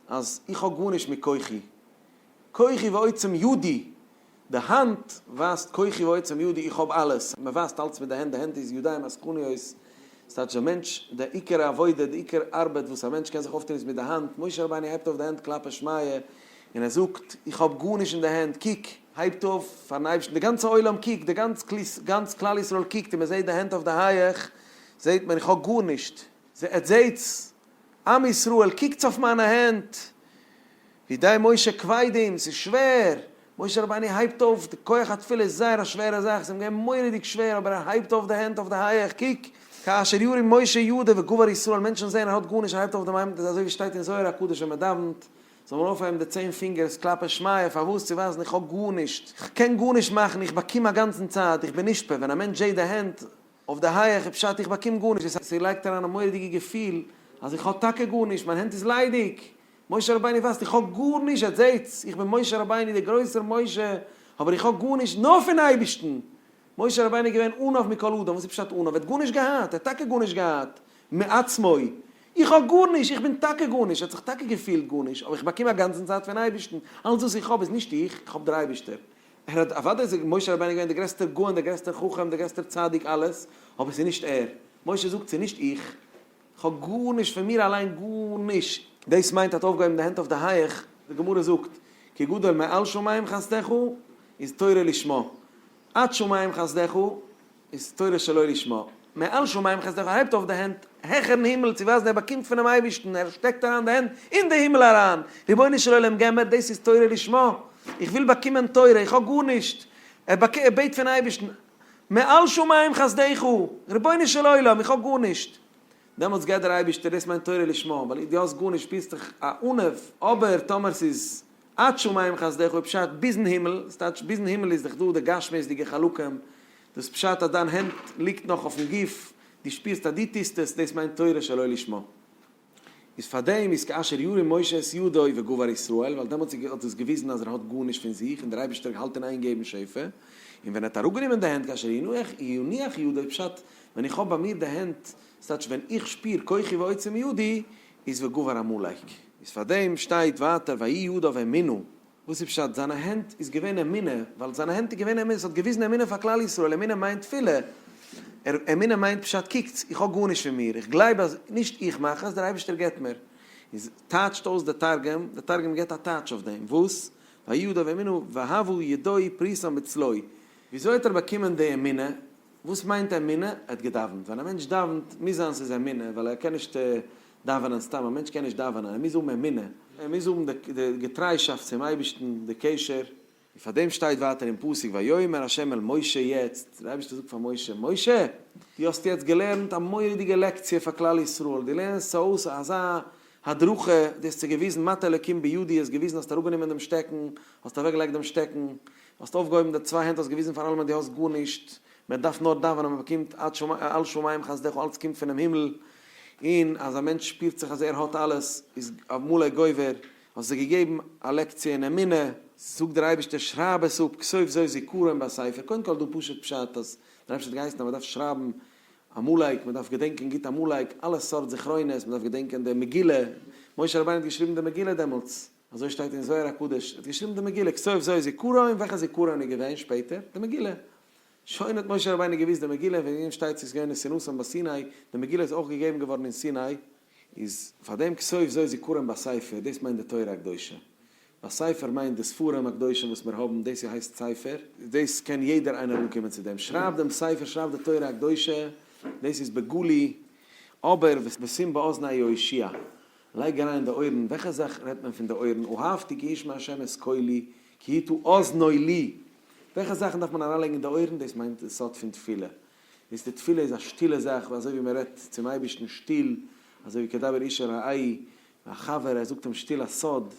אז איך האב גארנישט מיט כוחי, כוחי ועוצם ידי, די האנט ווייזט כוחי ועוצם ידי, איך האב אלעס, מען ווייזט אלץ מיט די הענט, די הענט איז ידיים עסקניות, ס'טייטש די מענטש, די עיקר עבודה, די עיקר ארבעט וואס א מענטש קען זיך אויפטון איז מיט די האנט, משה רבינו הייבט אויף די הענט כלפי שמיא, און ער זאגט, איך האב גארנישט אין די הענט, קוק, הייבט אויף פארן אייבערשטן, די גאנצע עולם קוקט, די גאנץ כלל ישראל קוקט, און מען זעט די הענט אויף די הייעך, זעט מען, איך האב גארנישט, זעט, זעטס, עם ישראל, קוקטס אויף מיינע הענט, ווי די משה כבדים, ס'איז שווער, משה רבינו הייבט אויף, די כח התפילה איז זייער א שווערע זאך, ס'איז אים געווען מורא'דיג שווער, אבער ער הייבט אויף די הענט אויף די הייעך, קוק, כאשר ירים משה ידיו וגבר ישראל, מענטשן זעען ער האט גארנישט, ער הייבט אויף די, אזוי ווי שטייט אין זוהר הקדוש ווען מען דאווענט, זאל מען אויפהייבן די צען פינגערס כלפי שמיא פארוואס? צו ווייזן איך האב גארנישט, איך קען גארנישט מאכן, איך באקום א גאנצן צייט, איך בין נשפע, ווען א מענטש זעט די הענט אויף די הייעך איז פשט איך באקום גארנישט, דאס הייסט ער לייגט אריין א מורא'דיגע געפיל אז איך האב טאקע גארנישט, מיין הענט איז ליידיג, משה רבינו ווייסט איך האב גארנישט, עטס זעטס? איך בין משה רבינו דער גרויסער משה, אבער איך האב גארנישט נאר פון אייבערשטן! משה רבינו איז געווען עניו מכל אדם, וואס איז פשט עניו? ער האט גארנישט געהאט, ער האט טאקע גארנישט געהאט, מעצמו. איך האב גארנישט, איך בין טאקע גארנישט, ער האט זיך טאקע געפילט גארנישט, אבער איך באקום אגאנצן צייט פון אייבערשטן, אלץ וואס איך האב איז נישט איך, איך האב דער אייבערשטער. ער האט, אוודאי איז משה רבינו געווען דער גרעסטער גאון, דער גרעסטער חכם, דער גרעסטער צדיק, אלעס, אבער ס'איז נישט ער. משה זאגט, ס'איז נישט איך, כ'האב גארנישט, פון מיר אליין גארנישט. דאס מיינט האט אויפגעהויבן די הענט אויף די הייעך, די גמרא זאגט, כי גדול מעל שמים חסדך איז תורה לשמה, עד שמים חסדך איז תורה שלא לשמה, מעל שמים חסדך הייבט אויף די הענט העכערן הימל צו ווייזן ער באקומט פונעם אייבערשטן, ער שטעקט אריין די הענט אין די הימל אריין, רבונו של עולם געב מיר, דאס איז תורה לשמה, איך וויל באקומען תורה, איך האב גארנישט, ער בעט פון אייבערשטן, מעל שמים חסדיך, רבונו של עולם, איך האב גארנישט. דעמאלטס געבט דער אייבערשטער, דאס מיינט תורה לשמה, ווייל דו האסט גארנישט שפירסט דיך א ענוו, אבער טאמער ס'איז עד שמים חסדיך איז פשט ביזן הימל, דאס טייטש ביזן הימל איז דאך דא די גשמיות'דיגע חלקים, דאס פשט אז דיין הענט ליגט נאך אויפן גוף, דו שפירסט אז דו טוסט עס, דאס מיינט תורה שלא לשמה. איז פאר דעם איז כאשר ירים משה את ידו וגבר ישראל, ווייל דעמאלטס איז האט עס געוויזן אז ער האט גארנישט פון זיך און דער אייבערשטער האלט אין איין געבן שפע, און ווען ער האט אראפגענומען די הענט כאשר יניח ידו פשט ווען איך האב ביי מיר די הענט, ס'טייטש ווען איך שפיר כוחי ועוצם ידי, איז וגבר עמלק. איז פאר דעם שטייט ווייטער ויהי ידו ואמינו, וואס איז פשט? זיינע הענט איז געווען אמונה, ווייל זיינע הענט איז געווען אמונה, עס האט געוויזן אמונה פאר כלל ישראל, אמונה מיינט תפילה, ער, אמונה מיינט פשט קוקטס, איך האב גארנישט פון מיר, איך גלייב אז נישט איך מאך עס, דער אייבערשטער געבט מיר. און ז טייטשט אויס דער תרגום, דער תרגום געבט א טייטש אויף דעם, וואס? ויהיו ידיו אמונה והוו ידו פרוסה בצלו. וויאזוי האט ער באקומען די אמונה? וואס מיינט אמונה? ער האט געדאווענט, ווען א מענטש דאווענט מוז זיין ס'איז אמונה, ווייל ער קען נישט דאווענען סתם, א מענטש קען נישט דאווענען, ער מוז האבן אמונה, ער מוז האבן די געטריישאפט צום אייבערשטן, די קשר. און פאר דעם שטייט ווייטער אין פסוק ויאמר ה' אל משה יעצט, דער אייבערשטער זאגט פאר משה, משה! דו האסט יעצט געלערנט א מורא'דיגע לעקציע פאר כלל ישראל, דו לערנסט אויס אזא הדרכה, דו האסט זיי געוויזן מטה אלקים בידי, האסט געוויזן, האסט אראפגענומען דעם שטעקן, האסט אוועקגעלייגט דעם שטעקן, האסט אויפגעהויבן די צוויי הענט, האסט געוויזן פאר אלעמען דו האסט גארנישט, מען דארף נאר דאווענען מען באקומט על שמים חסדך אלץ קומט פונעם הימל, און אז א מענטש שפירט זיך אז ער האט אלעס איז אויף מלא גובר, האסט זיי געגעבן א לעקציע אין אמונה, זאגט דער אייבערשטער שרייב עס אפ כסוף זוי' זיכרון בספר, קודם כל דא פשוט פשט אז דער אייבערשטער האט געהייסן אז מען דארף שרייבן עמלק, מען דארף געדענקען גוט עמלק, אלע סארט זכרונות, מען דארף געדענקען די מגילה, משה רבינו האט געשריבן די מגילה דעמאלטס, אזוי שטייט אין זוהר הקדוש, ער האט געשריבן די מגילה כסוף זוי' זיכרון, וועלכע זיכרון איז געווען שפעטער? די מגילה. שוין האט משה רבינו געוויסט די מגילה און וועגן אים שטייט ס'איז געווען נסיונותן ביי סיני, די מגילה איז אויך געגעבן געווארן אין סיני, איז פאר דעם כסוף זו זיכרון בספר, דאס מיינט די תורה הקדושה, בספר מיינט די ספרים הקדושים וואס מיר האבן, דאס איז הייסט ספר, דאס קען יעדער איינער אנקומען צו דעם, שרייב דעם ספר, שרייב די תורה הקדושה, דאס איז בגלוי, אבער ושים באזני יהושע, לייג אריין אין די אויערן, וועלכע זאך רעדט מען פון די אויערן, אהבתי כי ישמע ה' את קולי, כי תו אזנו לי, וועלכע זאכן דארף מען אריינלייגן אין די אויערן, דאס מיינט די סוד פון תפילה, איז די תפילה איז א שטילע זאך, ווי אזוי ווי מען רעדט צום אייבערשטן שטיל, אזוי ווי כדבר איש אל רעי', ווי א חבר ער זאגט אים שטיל א סוד,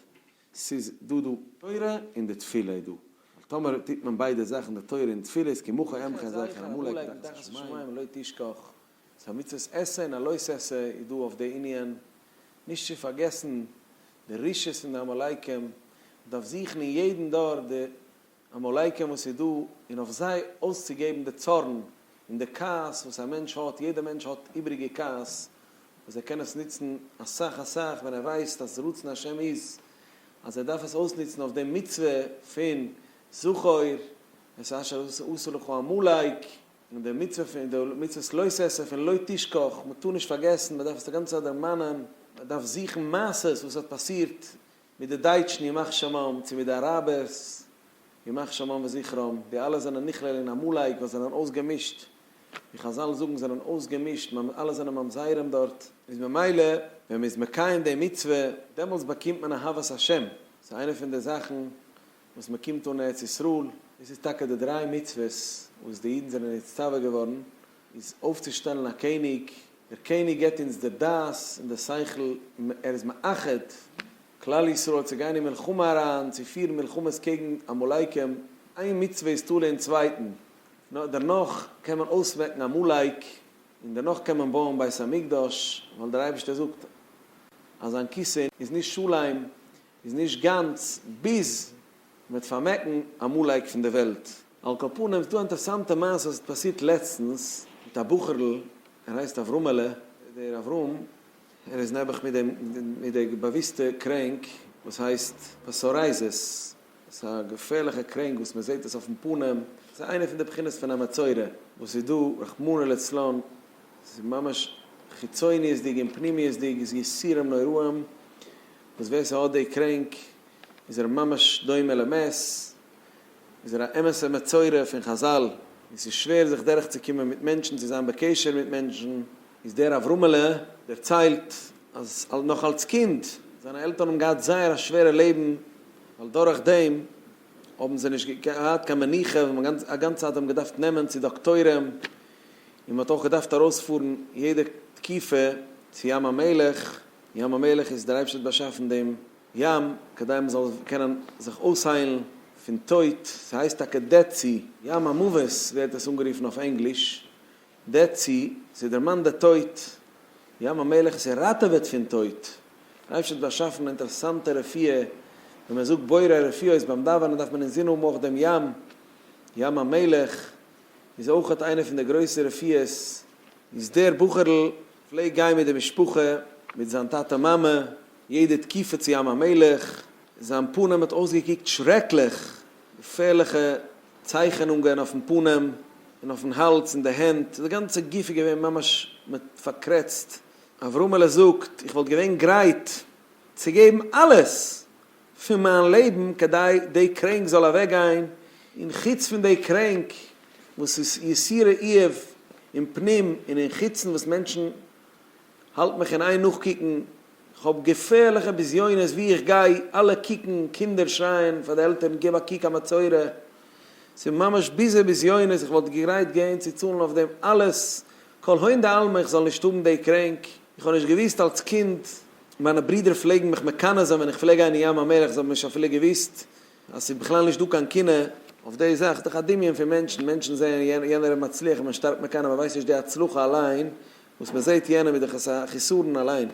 ס'איז דא דא תורה און די תפילה איז דא, ווייל טאמער טוט מען ביידע זאכן די תורה און תפילה איז כמוך עמך זכר עמלק תחת השמים לא תשכח. ס'איז א מצוות עשה און א לא עשה איז דא אויף די ענין, נישט צו פארגעסן די רשעות פון די עמלקים, מ'דארף זוכן אין יעדן דור די עמלקים וואס איז דא און אויף זיי אויסצוגעבן די צארן און די כעס וואס א מענטש האט, יעדע מענטש האט איבריגע כעס וואס ער קען עס נוצן אסאך אסאך ווען ער ווייסט אז רצון השם איז אז ער דארף עס אויסנוצן אויף די מצוה פון זכור את אשר עשה לך עמלק. און די מצוה פון די מצוות לא תעשה פון לא תשכח, מען טאר נישט פארגעסן, מען דארף עס די גאנצע צייט דערמאנען, מען דארף זוכן מעשות וואס האט פאסירט מיט די דייטשן ימח שמם צו מיט די אראבערס ימח שמם וזכרם, די אלע זענען נכלל אין עמלק וואס זענען אויסגעמישט, ווי חז ל זאגן זענען אויסגעמישט, אלע זענען ממזרים דארט. איז ממילא ווען מען איז מקיים די מצוה דעמאלטס באקומט מען אהבת השם, ס'איז איינע פון די זאכן וואס מען קומט אן ארץ ישראל, דאס איז טאקע די דריי מצוות וואס די אידן זענען נצטווה געווארן, איז אויפצושטעלן א קעניג, דער קעניג געבט אונז די דעת און די שכל, ער איז מאחד כלל ישראל צו גיין אין מלחמה אריין, צו פירן מלחמות קעגן עמלקים, איין מצוה איז תלוי אין צווייטן, דערנאך קען מען אויסמעקן עמלק, און דערנאך קען מען בויען בית המקדש, ווייל דער אייבערשטער זאגט אז זיין כיסא איז נישט שלם. איז נישט גאנץ ביז מ'וועט פארמעקן עמלק פון די וועלט. על כל פנים ס'דא א אינטערסאנטע מעשה וואס האט פאסירט לעצטנס מיט א בחור'ל ער הייסט אברהמ'עלע, דער אברהם ער איז נעבעך מיט דעם מיט די באוויסטע קרענק וואס הייסט פסארייזעס, ס'איז א געפערליכע קרענק וואס מ'זעהט עס אויפן פנים, ס'איז איינע פון די בחינות פון א מצורע וואס איז דא רחמנא לצלן, ס'איז ממש חיצוניות'דיג און פנימיות'דיג, איז יסורים נוראים, וואס ווער ס'האט די קרענק איז ער ממש דומה למת, איז ער א אמת'ע מצורע פון חזל, און ס'איז שווער זיך דורך צו קומען מיט מענטשן צו זיין בקשר מיט מענטשן, איז דער אברהמעלע דערציילט אז נאך אלס קינד זיינע עלטערן האבן געהאט זייער א שווערע לעבן ווייל דורך דעם האבן זיי נישט געהאט קיין מנוחה ווען מ'האט א גאנצע צייט אים געדארפט נעמען צו דאקטוירים און מ'האט אויך געדארפט ארויספארן יעדע תקופה צו ים המלח. ים המלח איז דער אייבשטער האט באשאפן דעם ים כדי מען זאל קענען זיך אויסהיילן פון טויט, ס'הייסט טאקע דעד סי, ים המוות ווערט עס אנגערופן אויף ענגליש, דעד סי, ס'דערמאנט די טויט, ים המלח עס ראטעוועט פון טויט, דער אייבשטער האט באשאפן אינטערעסאנטע רפואה, ווען מען זאגט בורא רפואות ביים דאווענען דארף מען אינזין האבן אויך דעם ים, ים המלח איז אויכעט איינע פון די גרויסע רפואות, איז דער בחור'ל פלעגט גיין מיט די משפחה, מיט זיין טאטע מאמע, יעדע תקופה צו ים המלח, זיין פנים האט אויסגעקוקט שרעקליך, געפערליכע צייכענונגען אויפן פנים און אויפן האלז און די הענט, די גאנצע גוף איז געווען ממש מיט פארקרעצט, אברהמעלע זאגט איך וואלט געווען גרייט צו געבן אלעס פון מיין לעבן כדי די קרענק זאל אוועק גיין, און חוץ פון די קרענק וואס איז יסורי איוב אין פנים און אין חוצן וואס מענטשן האלט מיך אין איין נאכקוקן, כ'האב געפערליכע בזיונות ווי איך גיי, אלע קוקן, קינדער שרייען פאר די עלטערן גיב א קוק א מצורע, ס'איז ממש ביזע בזיונות, איך וואלט גרייט געוען צו צאלן אויף דעם אלעס, כל הון דעלמא איך זאל נישט האבן די קרענק. איך האב נישט געוואוסט אלס קינד, מיינע ברידער פלעגן מיך מקנא זיין ווען איך פלעג גיין אין ים המלח, זיי האבן נישט אפילו געוואוסט אז ס'איז בכלל נישט דא קיין קנאה אויף די זאך, ס'איז דאך א דמיון פון מענטשן, מענטשן זעען יענער איז מצליח און מען שטארקט מקנא, מען ווייסט נישט די הצלחה אליין וואס מען זעט יענעם איז דאך עס א חיסרון אליין.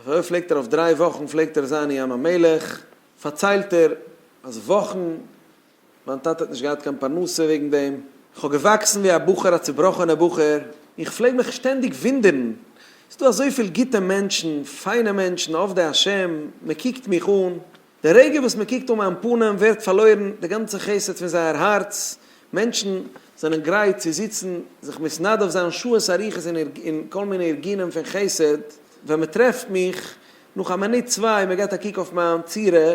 אזוי פלעגט ער אויף דריי וואכן פלעגט ער זיין אין ים המלח, פארציילט ער אז וואכן. מיין טאטע האט נישט געהאט קיין פרנסה וועגן דעם, כ'האב געוואקסן ווי א בחור א צובראכענער בחור, און כ'פלעג מיך שטענדיג ווינדערן, ס'איז דא אזויפיל גוטע מענטשן, פיינע מענטשן, עובדי השם, מען קוקט מיך אן, די רגע וואס מען קוקט אן מיין פנים ווערט פארלוירן די גאנצע חסד פון זייער הארץ, מענטשן זענען גרייט צו זיצן, זיך מתנדב זיין שעות אריכות אין כל מיני ארגונים פון חסד, ווען מען טרעפט מיך, נאך א מינוט צוויי, מען געט א קוק אויף מיין צורה,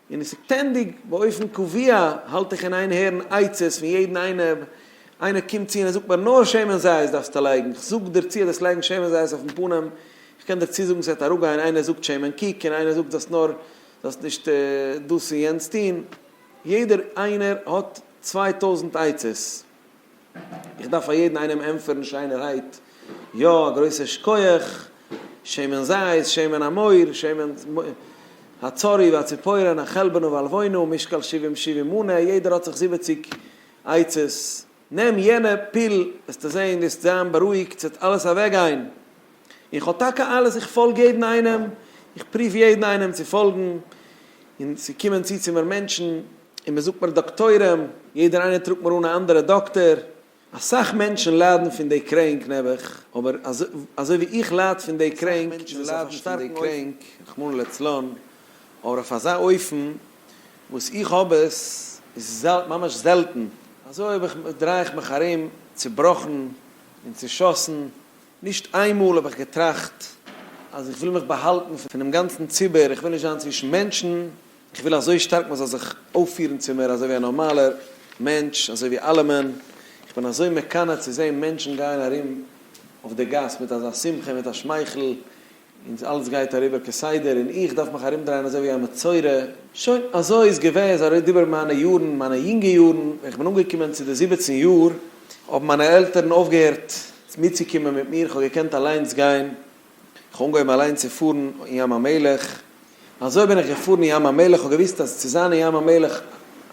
און עס איז שטענדיג, באופן קבוע האלט איך אין איין הערן עצות פון יעדן איינעם, איינער קומט צו און ער זאגט מיר נאר שמן זית דארפסטו לייגן, איך זאג דיר צו אז דאס לייגן שמן זית אויפן פנים, איך קען דיר צוזאגן ס'וועט אראפגיין, איינער זאגט שמן קוק און איינער זאגט זאלסט נאר זאלסט נישט דאס און יענץ טון, יעדער איינער האט צוויי טויזנט עצות. איך דארף פאר יעדן איינעם ענטפערן שיינערהייט, יא, א גרויסער שקויעך, שמן זית, שמן המאור, שמן הצורי והציפורן, החלבנו והלווינו, משקל שבעים שבעים מנה, יעדער האט זיך זיבעציג עצות, נעם יענע פיל, וועסטו זען, וועסט זיין בארואיגט, ס'וועט אלעס אוועקגיין. איך האב טאקע אלעס, איך פאלג יעדן איינעם, איך פרוף יעדן איינעם צו פאלגן, און ס'קומען צו צו מיר מענטשן, און מען זאגט מיר דאקטוירים, יעדער איינער טראגט מיר אן א אנדערע דאקטער, אסאך מענטשן ליידן פון די קרענק נעבעך, אבער אזוי ווי איך לייד פון די קרענק, און ס'איז אויף א שטארקן אויפן, רחמנא לצלן, אבער אויף אזא אויפן וואס איך האב עס, איז ממש זעלטן. אזוי האב איך, דריי איך מיך ארום צובראכן און צושאסן, נישט איין מאל האב איך געטראכט אז איך וויל מיך באהאלטן פונעם גאנצן ציבור, איך וויל נישט זיין צווישן מענטשן, איך וויל אזוי שטארק מען זאל זיך אויפפירן צו מיר אזוי ווי א נארמאלער מענטש, אזוי ווי אלעמען, איך בין אזוי מקנא צו זען מענטשן גייען ארום אויף די גאס מיט אזא שמחה און מיט א שמייכל, און אלץ גייט אריבער כסדר, און איך דארף מיך ארומדרייען אזוי ווי א מצורע. שוין, אזוי איז געווען, אזוי אריבער מיינע יארן, מיינע יונגע יארן, ווען איך בין אנגעקומען צו די זיבעצן יאר, האבן מיינע עלטערן אויפגעהערט מיטצוקומען מיט מיר, איך האב געקענט אליינס גיין, איך אנגעהויבן אליין צו פארן אין ים המלח, אזוי בין איך געפארן אין ים המלח, איך האב געוואוסט אז צו זיין אין ים המלח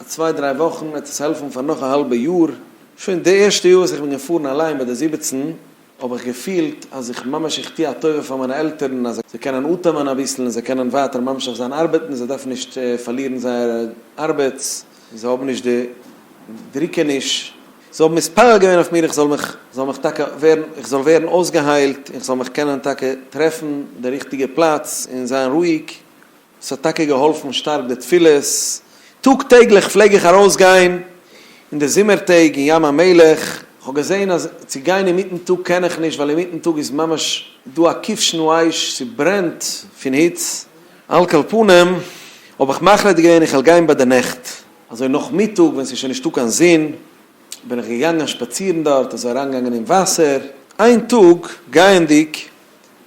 א צוויי דריי וואכן וועט עס העלפן פאר נאך א האלבע יאר, שוין די ערשטע יאר וואס איך בין געפארן אליין ביי די זיבעצן האב איך געפילט אז איך ממש איך טוה א טובה פאר מיינע עלטערן אז זיי קענען אטעמען אביסל און זיי קענען ווייטער ממשיך זיין ארבעטן, זיי דארפן נישט פארלירן זייער ארבעט, זיי האבן נישט די דריקעניש. זיי האבן מתפלל געווען אויף מיר איך זאל מיך זאל מיך טאקע ווערן איך זאל ווערן אויסגעהיילט און איך זאל מיך קענען טאקע טרעפן די ריכטיגע פלאץ און זיין רואיג, עס האט טאקע געהאלפן שטארק די תפילות, טאג טעגליך פלעג איך ארויס גיין אין די זומער טעג אין ים המלח, איך האב געזען אז צו גיין אינמיטן טאג קען איך נישט ווייל אינמיטן טאג איז ממש דא א כבשן האש ס'ברענט פון היץ, על כל פנים האב איך מחליט געווען איך וועל גיין ביי די נעכט, אזוי נאכמיטאג ווען ס'איז שוין נישטא קיין זון בין איך געגאנגען שפאצירן דארט, אזוי אריינגעגאנגען אין וואסער, איין טאג גייענדיג,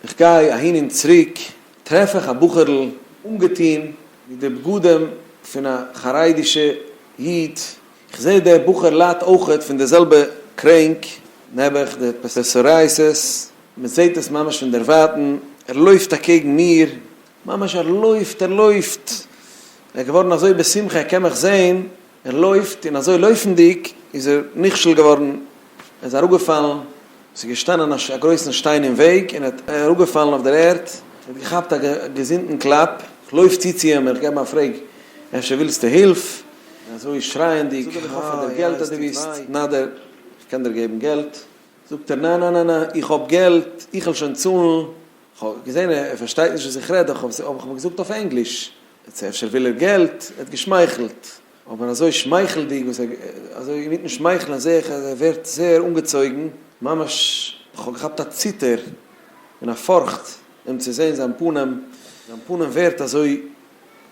איך גיי אהין און צוריק, טרעף איך א בחור'ל אנגעטון מיט די בגדים פון א חרדי'שע איד, איך זעה דער בחור ליידט אויכעט פון די זעלבע קרענק, נעבעך די פסוריאסיס, מ'זעהט עס ממש פון דערווייטן, ער לויפט אקעגן מיר, ממש ער לויפט, ער לויפט, ער איז געווארן אזוי בשמחה ער קען מיך זען, ער לויפט און אזוי לויפנדיג איז ער נכשל געווארן, ער איז אראפגעפאלן, עס איז געשטאנען א גרויסן שטיין אין וועג און ער איז אראפגעפאלן אויף דער ערד, ער האט געכאפט א געזונטן קלאפ, איך לויף צו צו אים, איך געב אים א פרעג, אפשר ווילסטו הילף? און אזוי שרייענדיג, זאג איך האף עס דער געלט אז דו ביסט נדר, איך קען דיר געבן געלט, זאגט ער ניין ניין ניין איך האב געלט, איך וועל שוין צאלן. כ'האב געזען ער פארשטייט נישט וואס איך רעד דאך האב איך אים געזאגט אויף ענגליש, יעצט אפשר וויל ער געלט, ער האט געשמייכלט, אבער אזוי שמייכלדיג וואס ער, אזוי אינמיטן שמייכלען זעה איך אז ער ווערט זייער אנגעצויגן, ממש כ'האב געכאפט א ציטער און א פארכט אים צו זען זיין פנים, זיין פנים ווערט אזוי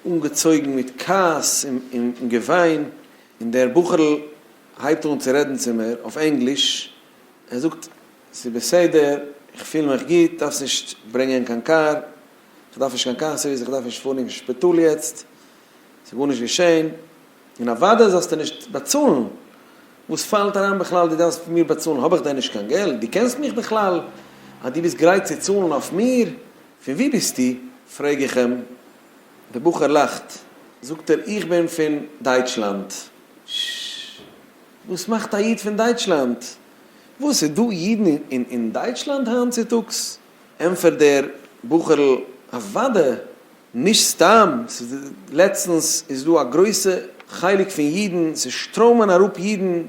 אנגעצויגן מיט כעס און געוויין, און דער בחור'ל הייבט אן צו רעדן צו מיר אויף ענגליש, ער זאגט. ס'איז בסדר, איך פיל מיך גוט, דארפסט נישט ברענגען קיין קאר, כ'דארף נישט קיין קאר סערוויס, כ'דארף נישט פארן אין שפיטאל יעצט, ס'איז גארנישט געשען, און אוודאי זאלסטו נישט באצאלן, וואס פאלט אריין בכלל דו דארפסט פון מיר באצאלן, האב איך דען נישט קיין געלט, דו קענסט מיך בכלל אז דו ביסט גרייט צו צאלן אויף מיר, פון וואו ביסטו? פרעג איך אים, דער בחור לאכט, זאגט ער איך בין פון דייטשלאנד, ש ש, וואס מאכט א איד פון דייטשלאנד? וואס איז דא אידן אין דייטשלאנד היינט צוטאגס? ענטפערט דער בחור'ל, אוודאי, נישט סתם, לעצטנס איז דא א גרויסע חלק פון אידן, ס'שטראמען אראפ אידן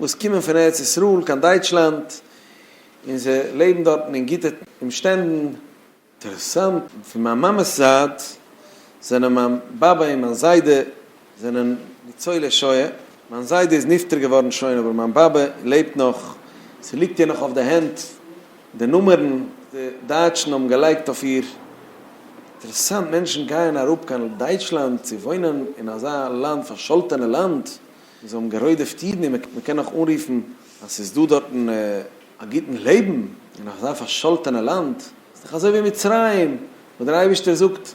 וואס קומען פון ארץ ישראל קיין דייטשלאנד, און זיי לעבן דארטן אין גוטע אומשטענדן. אינטערעסאנט, פון מיין מאמע'ס זייט זענען מיין באבע און מיין זיידע זענען ניצולי שואה, מיין זיידע איז נפטר געווארן שוין אבער מיין באבע לעבט נאך, ס'ליגט איר נאך אויף די הענט די נומערן וואס די דייטשן האבן געלייגט אויף איר, אינטערעסאנט, מענטשן גייען אראפ קיין דייטשלאנד צו וואוינען אין אזא לאנד, פארשאלטענע לאנד, וואו זיי האבן גערוידעפט אידן און מ'קען נאך אנרופן אז ס'איז דא דארטן. א גוטן לעבן אין אזא פארשאלטענע לאנד איז דאך אזוי ווי מצרים, וואס דער אייבערשטער זאגט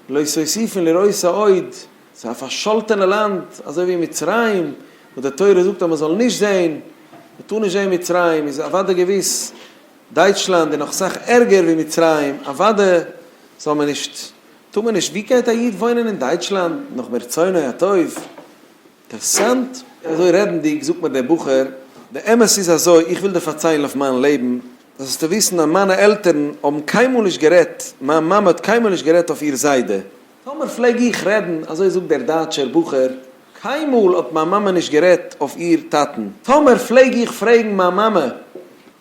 לא סוסיפין לרעות העוד, ס'איז א פארשאלטענע לאנד אזוי ווי מצרים, וואס די תורה זאגט אז מען זאל נישט זען, מען טאר נישט זען מצרים, איז אוודאי געוויס דייטשלאנד איז נאך סאך ערגער ווי מצרים, אוודאי זאל מען נישט, טאר מען נישט, ווי גייט א איד וואוינען אין דייטשלאנד נאך מרצונו הטוב? אינטערסאנט, אזוי רעדנדיג זאגט מיר דער בחור, די אמת איז אזוי, איך וויל דיר פארציילן אויף מיין לעבן, זאלסטו וויסן אז מיינע עלטערן האבן קיינמאל נישט גערעדט, מיין מאמע האט קיינמאל נישט גערעדט אויף איר זיידע, טאמער פלעג איך רעדן, אזוי זאגט דער דייטשער בחור, קיינמאל האט מיין מאמע נישט גערעדט אויף איר טאטן, טאמער פלעג איך פרעגן מיין מאמע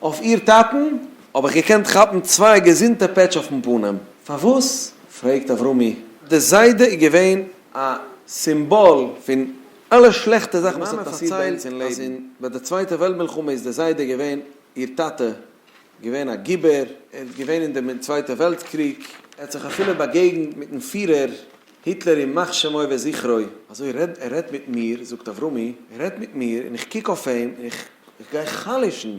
אויף איר טאטן, האב איך געקענט כאפן צוויי געזונטע פעטש אויפן פנים, פארוואס? פרעגט אברומי, די זיידע איז געווען א סימבאל פון אלע שלעכטע זאכן וואס האט פאסירט ביי אונז אין לעבן. מאמע פארציילט אז ביי די צווייטע וועלט מלחמה איז דער זיידע געווען, איר טאטע, געווען א גיבור, ער איז געווען אין דעם צווייטע וועלט קריג, ער האט זיך אפילו באגעגנט מיטן פירער היטלער ימח שמו וזכרו, אזוי רעד ער רעדט מיט מיר, זאגט אברומי, ער רעדט מיט מיר און איך קוק אויף אים און איך איך גיי חלש'ן,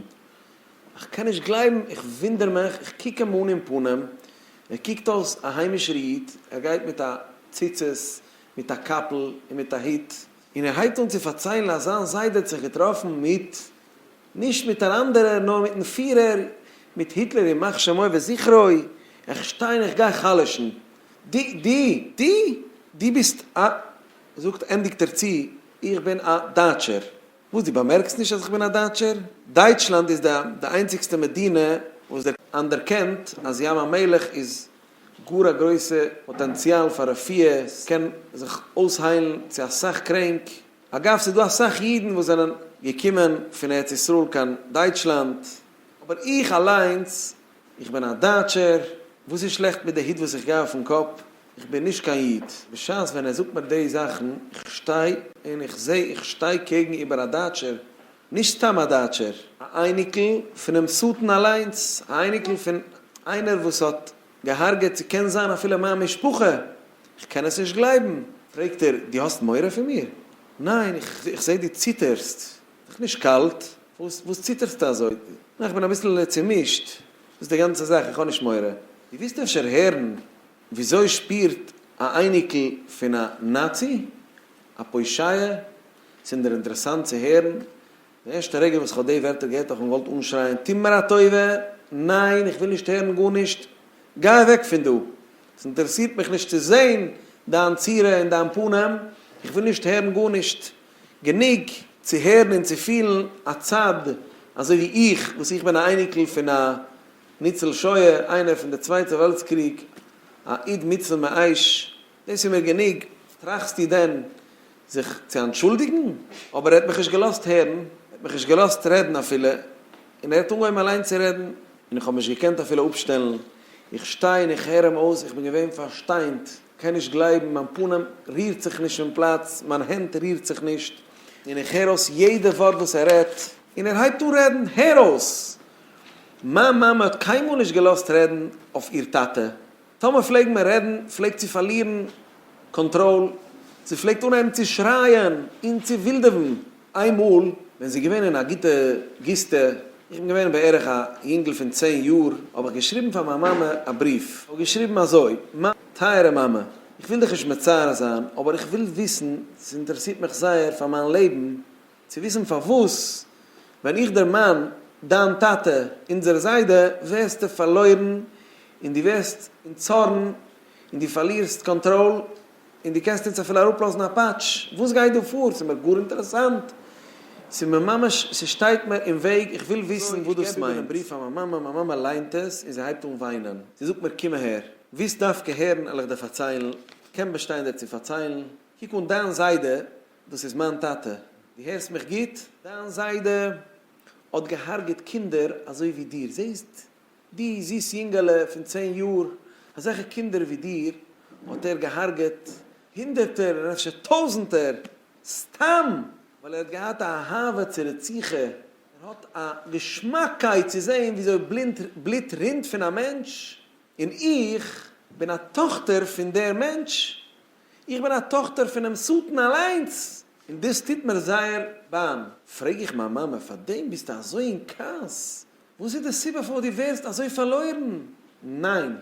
איך קען נישט גלייבן, איך וואונדער מיך, איך קוק אים אן אין פנים, ער קוקט אויס א היימישער איד, ער גייט מיט א ציצית, מיט א קאפל און מיט א הוט, און ער הייבט אן צו פארציילן אז זיין זיידע האט זיך געטראפן מיט, נישט מיט אן אנדערער, נאר מיטן פירער, מיט היטלער ימח שמו וזכרו, איך שטיי און איך גיי חלש'ן, דו, דו, דו, דו ביסט א, זאגט, ענדיגט ער צו, איך בין א דייטשער. וואס דו באמערקסט נישט אז איך בין א דייטשער? דייטשלאנד איז די די איינציגסטע מדינה וואס דער אנדערקענט אז ים המלח איז גאר א גרויסע פאטענציאל פאר רפואה, עס קען זיך אויסהיילן צו אסאך קרענק, אגב ס'איז דא אסאך אידן וואס זענען געקומען פון ארץ ישראל קיין דייטשלאנד, אבער איך אליינס איך בין א דייטשער, וואס איז שלעכט מיט די היט וואס איך גיי אויפן קאפ? איך בין נישט קיין איד. בשעת ווען ער זאגט מיר די זאכן, איך שטיי און איך זע איך שטיי קעגן איבער א דייטשער, נישט סתם א דייטשער, א אייניקל פונעם שטן אליינס, א אייניקל פון איינער וואס האט געהארגעט ס'קען זיין אפילו מיין משפחה, איך קען עס נישט גלייבן. פרעגט ער, דו האסט מורא פון מיר? ניין, איך זע דו ציטערסט, דיך נישט קאלט? וואס ציטערסטו אזוי? נא איך בין אביסל צומישט וואס די גאנצע זאך איך האב נישט מורא. די ווילסט אפשר הערן וויאזוי שפירט א אייניקל פון א נאצי? א פושעיה? ס'אינדער אינטערעסאנט צו הערן. די ערשטע רגע וואס כ'האב די ווערטער געהערט האב איך געוואלט אנשרייען טו מיר א טובה, ניין איך וויל נישט הערן גארנישט, גיי אוועק פון דא, ס'אינטערעסירט מיך נישט צו זעהן דיין צורה און דיין פנים, איך וויל נישט הערן גארנישט. גענוג צו הערן און צו פילן א צד, אזוי ווי איך וואס איך בין א אייניקל פון א ניצול שואה, איינער פון די צווייטע וועלטס קריג, א איד מצוה מאייש, דאס איז מיר גענוג, טראכסטו דען זיך צו אנטשולדיגן? אבער ער האט מיך נישט געלאזט הערן, ער האט מיך נישט געלאזט רעדן אפילו, און ער האט אנגעהויבן אליין צו רעדן, און איך האב נישט געקענט אפילו אפשטעלן, איך שטיי און איך הער אים אויס, איך בין געווען פארשטיינט, קען נישט גלייבן, מיין פנים רירט זיך נישט פון פלאץ, מיין הענט רירט זיך נישט, און איך הער אויס יעדע ווארט וואס ער רעדט, און ער הייבט אן רעדן, הער אויס! מיין מאמע האט קיינמאל נישט געלאזט רעדן אויף איר טאטע, טאמער פלעגן מיר רעדן פלעגט זי פארלירן קאנטראל, זי פלעגט אנהייבן צו שרייען און צו ווילדעווען. איין מאל ווען זי איז געווען אין א גוטע גוסטע, איך בין געווען בערך א יונגל פון צען יאר, האב איך געשריבן פאר מיין מאמע א בריוו, איך האב געשריבן אזוי, מיין טייערע מאמע, איך וויל דיך נישט מצער זיין, אבער איך וויל וויסן, ס'אינטערעסירט מיך זייער פאר מיין לעבן, צו וויסן פארוואס ווען איך דערמאן דיין טאטע, אונזער זיידע, ווערסטו פארלוירן און דו ווערסט אין צארן און דו פארלירסט קאנטראל. און דו קענסט אונז אפילו אראפלאזן א פאטש, וואס גייט דא פאר? ס'איז מיר גאר אינטערעסאנט, ס'איז מיר ממש, ס'שטייט מיר אין וועג, איך וויל וויסן וואס דאס מיינט. אזוי, איך געב איבער דעם בריוו פאר מיין מאמע, מיין מאמע ליינט עס און זי הייבט אן וויינען, זי זאגט מיר קום אהער, ווילסט דווקא הערן, עלעך דיר פארציילן, קען באשטיין דיר צו פארציילן, קוק אן דיין זיידע, דאס איז מיין טאטע, דו הערסט מיך גוט? דיין זיידע האט געהארגעט קינדער אזוי ווי דיר, זעסט? די זיס יונגעלע פון צען יאר, אזעלכע קינדער ווי דיר האט ער געהארגעט הונדערטער און אפשר טויזענטער סתם ווייל ער האט געהאט א אהבה צו רציחה, ער האט א געשמאקקייט צו זעהן וויאזוי בלוט רינט פון א מענטש, און איך בין א טאכטער פון דער מענטש, איך בין א טאכטער פונעם שטן אליינס, און דאס טוט מיר זייער באם, פרעג איך מיין מאמע פארדעם ביסטו אזוי אין כעס וואס איז די סיבה פארוואס דו ווערסט אזוי פארלוירן? ניין!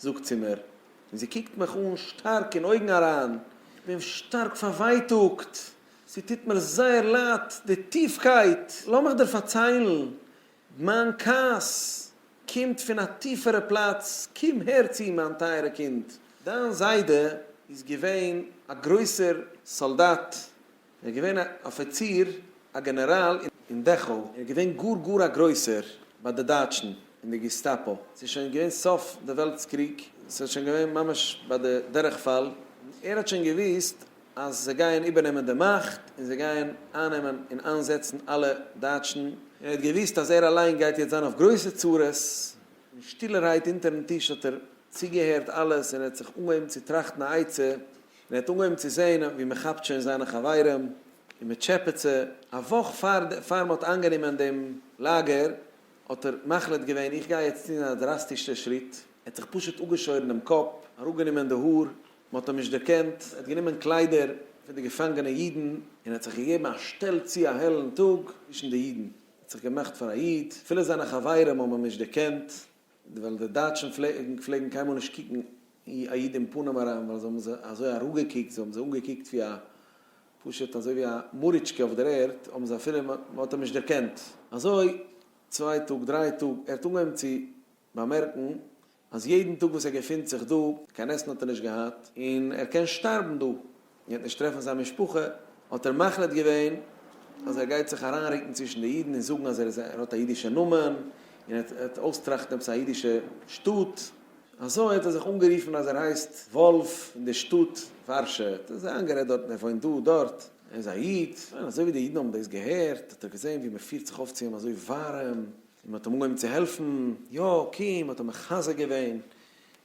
זאגט זי מיר, און זי קוקט מיך אן שטארק אין אויגן אריין, איך בין שטארק פארווייטאגט, ס'טוט מיר זייער לייד די טיפקייט, לאמיך דיר פארציילן, מיין כעס קומט פון א טיפערע פלאץ, קום הער צו מיין טייערע קינד, דיין זיידע איז געווען א גרויסער סאלדאט, ער איז געווען א אפיציר, א גענעראל אין דעכאו, ער איז געווען גאר גאר א גרויסער ביי די דייטשן אין די געסטאפא, ס'איז שוין געווען סוף די וועלטס קריג, ס'איז שוין געווען ממש ביי די דורכפאל, ער האט שוין געוויסט אז זיי גייען איבערנעמען די מאכט און זיי גייען אייננעמען און איינזעצן אלע דייטשן, און ער האט געוויסט אז ער אליין גייט יעצט זיין אויף גרויסע צרות, און שטילערהייט אונטערן טיש האט ער צוגעהערט אלעס און ער האט זיך אנגעהויבן צו טראכטן א עצה. מען האט אנגעהויבן צו זעהן ווי מען כאפט שוין זיינע חברים און מען טשעפעט זיי, א וואך פאר מען האט איינגענומען דעם לאגער האט ער מחליט געווען איך גיי יעצט טון א דראסטישע שריט, ער האט זיך פשוט אפגעשוירן דעם קאפ, אראפגענומען די האר, מען האט אים נישט דערקענט, ער האט גענומען קליידער פון די געפאנגענע אידן און האט זיך געגעבן א שטעל צו א העלן טאג צווישן די אידן, ער האט זיך געמאכט פאר א איד, אפילו זיינע חברים האבן אים נישט דערקענט, ווייל די דייטשן פלעגן קיינמאל נישט קוקן א איד אין פנים אריין ווייל זיי האבן זיי אזוי אראפגעקוקט, זיי האבן זיי אנגעקוקט ווי א, פשוט אזוי ווי א מאריטשקע אויף דער ערד, האבן זיי אפילו, מען האט אים נישט דערקענט. אזוי צוויי טאג דריי טאג, ער האט אנגעהויבן צו באמערקן אז יעדן טאג וואס ער געפינט זיך דא, קיין עסן האט ער נישט געהאט, און ער קען שטארבן דא. ער האט נישט טרעפן זיין משפחה, האט ער מחליט געווען אז ער גייט זיך אריינרוקן צווישן די אידן און זאגן אז ער איז ער האט א אידישע נאמען און ער וועט ער וועט אויסטראכטן עפעס א אידישע שטאט. אזוי האט ער זיך אנגערופן אז ער הייסט וואלף און די שטאט ווארשע האט ער זיי איינגערעדט דארט און ער וואוינט דא דארט, ער איז א איד. און אזוי ווי די אידן האבן דאס געהערט האט ער געזען ווי מען פירט זיך אויף צו אים אזוי ווארעם און מען האט אים אנגעהויבן צו העלפן, יא קום, מען האט אים מחזק געווען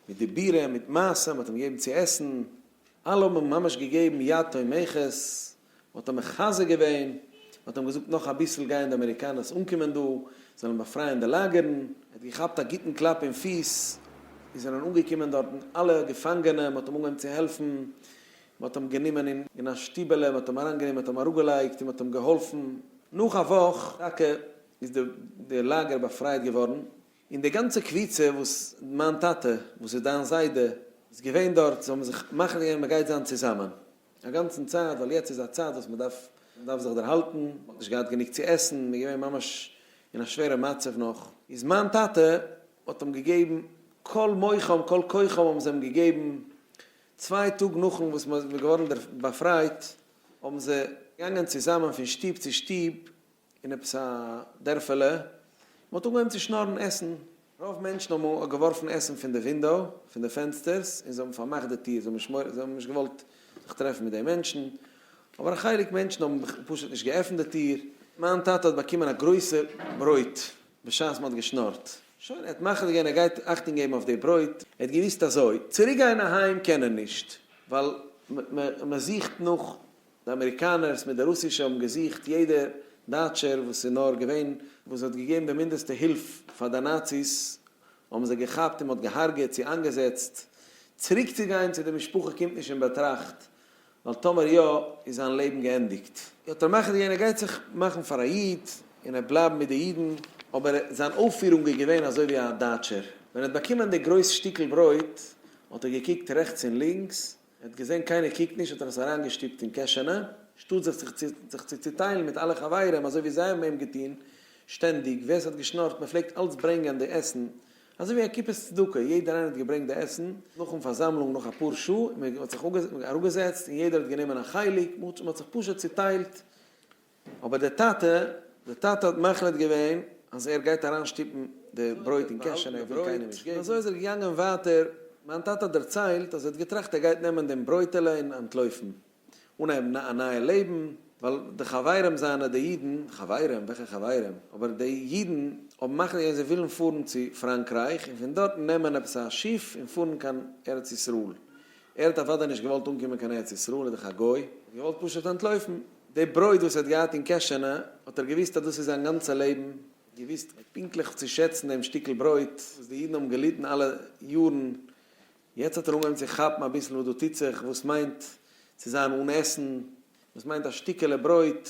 מיט דיבורים מיט מעשים, מען האט אים געגעבן צו עסן, אלע האבן אים ממש געגעבן יד תומכת, מען האט אים מחזק געווען, מען האט אים געזאגט נאך אביסל גייען די אמעריקאנערס אנקומען דא, זיי וועלן באפרייען די לאגערן, ער האט געכאפט א גוטן קלאפ אין פיס, עס זענען אנגעקומען דארטן אלע געפאנגענע, מען האט אים אנגעהויבן צו העלפן, מען האט אים גענומען אין אין א שטיבעלע, מען האט אים אריינגענומען, מען האט אים אראפגעלייגט און מען האט אים געהאלפן, נאך א וואך טאקע איז די די לאגער באפרייט געווארן, און די גאנצע קבוצה וואס מיין טאטע וואס איז דיין זיידע איז געווען דארט, זיי האבן זיך מחליט געווען מ'גייט זיין צוזאמען א גאנצן צייט, ווייל יעצט איז א צייט וואס מ'דארף מ'דארף זיך דערהאלטן, מ'האט נישט געהאט גענוג צו עסן, מ'איז געווען ממש אין א שווערע מצב נאך, איז מיין טאטע האט אים געגעבן כל מוחם כל כוחם האבן זיי אים געגעבן, צוויי טאג נאכן וואס מ'איז געווארן באפרייט האבן זיי געגאנגען צוזאמען פון שטוב צו שטוב אין עפעס א דערפעלע, מען האט אנגעהויבן צו שנארן עסן, רוב מענטשן האבן געווארפן עסן פון די ווינדאו, פון די פענסטערס, און זיי האבן פארמאכט די טיר, זיי האבן נישט געוואלט זיך טרעפן מיט די מענטשן, אבער א חלק מענטשן האבן פשוט נישט געעפנט די טיר. מיין טאטע האט באקומען א גרויסע ברויט בשעת מען האט געשנארט, שוין, ער האט מחליט געווען ער גייט אכטונג געבן אויף די ברויט, ער האט געוואוסט אזוי, צוריק גיין אהיים קען ער נישט, ווייל מען זוכט נאך די אמעריקאנערס מיט די רוסישע האבן געזוכט יעדע דייטשער וואס איז נאר געווען וואס האט געגעבן די מינדעסטע הילף פאר די נאציס האבן זיי געכאפט און מ'האט געהארגעט צו איינגעזעצט. צוריק צו גיין צו די משפחה קומט נישט אין באטראכט ווייל טאמער יא איז זיין לעבן געענדיגט. האט ער מאכט געווען ער גייט זיך מאכן פאר א איד און ער וועט בלייבן מיט די אידן אבער זיין אויפפירונג איז געווען אזוי ווי א דייטשער ווען ער האט באקומען די גרויס שטיקל ברויט האט ער געקוקט רעכטס און לינקס ער האט געזען קיינער קוקט נישט האט ער עס אריינגעשטופט אין קעשענע, שטאט זיך צו זיך צו צוטיילן מיט אלע חברים אזוי ווי זיי האבן אים געטון שטענדיג, ווער ס'האט געשנארט מען פלעגט אלץ ברענגען די עסן אזוי ווי א קופת צדקה, יעדער איינער האט געברענגט די עסן, נאכן פארזאמלונג נאך אפאר שעה איז מען האט זיך אראפגעזעצט און יעדער האט גענומען א חלק, מען האט זיך פשוט צוטיילט. אבער דער טאטע, דער טאטע האט מחליט געווען אז ער גייט אריין שטופן די ברויט אין קעש און ער וויל קיינעם נישט געבן, אזוי איז ער געגאנגען ווייטער, מיין טאטע האט דערציילט אז ער האט געטראכט ער גייט נעמען דעם ברויטעלע און אנטלויפן, אנהייבן א נייע לעבן, ווייל די חברים זיינע די אידן, חברים? וועלכע חברים? אבער די אידן האבן מחליט געווען זיי ווילן פארן צו פראנקרייך און פון דארטן נעמען עפעס א שיף און פארן קיין ארץ ישראל, ער האט אוודאי נישט געוואלט אנקומען קיין ארץ ישראל, איז דאך א גוי, ער האט געוואלט פשוט אנטלויפן, די ברויט וואס ער האט געהאט אין קעשענע האט ער געוואוסט אז דאס איז זיין גאנצע לעבן, געוואוסט פונקטליך צו שעצן דעם שטיקל ברויט וואס די אידן האבן געליטן אלע יארן, יעצט האט ער אנגעהויבן צו כאפן אביסל וואס דא טוט זיך, וואס מיינט צו זיין אן עסן, וואס מיינט א שטיקעלע ברויט,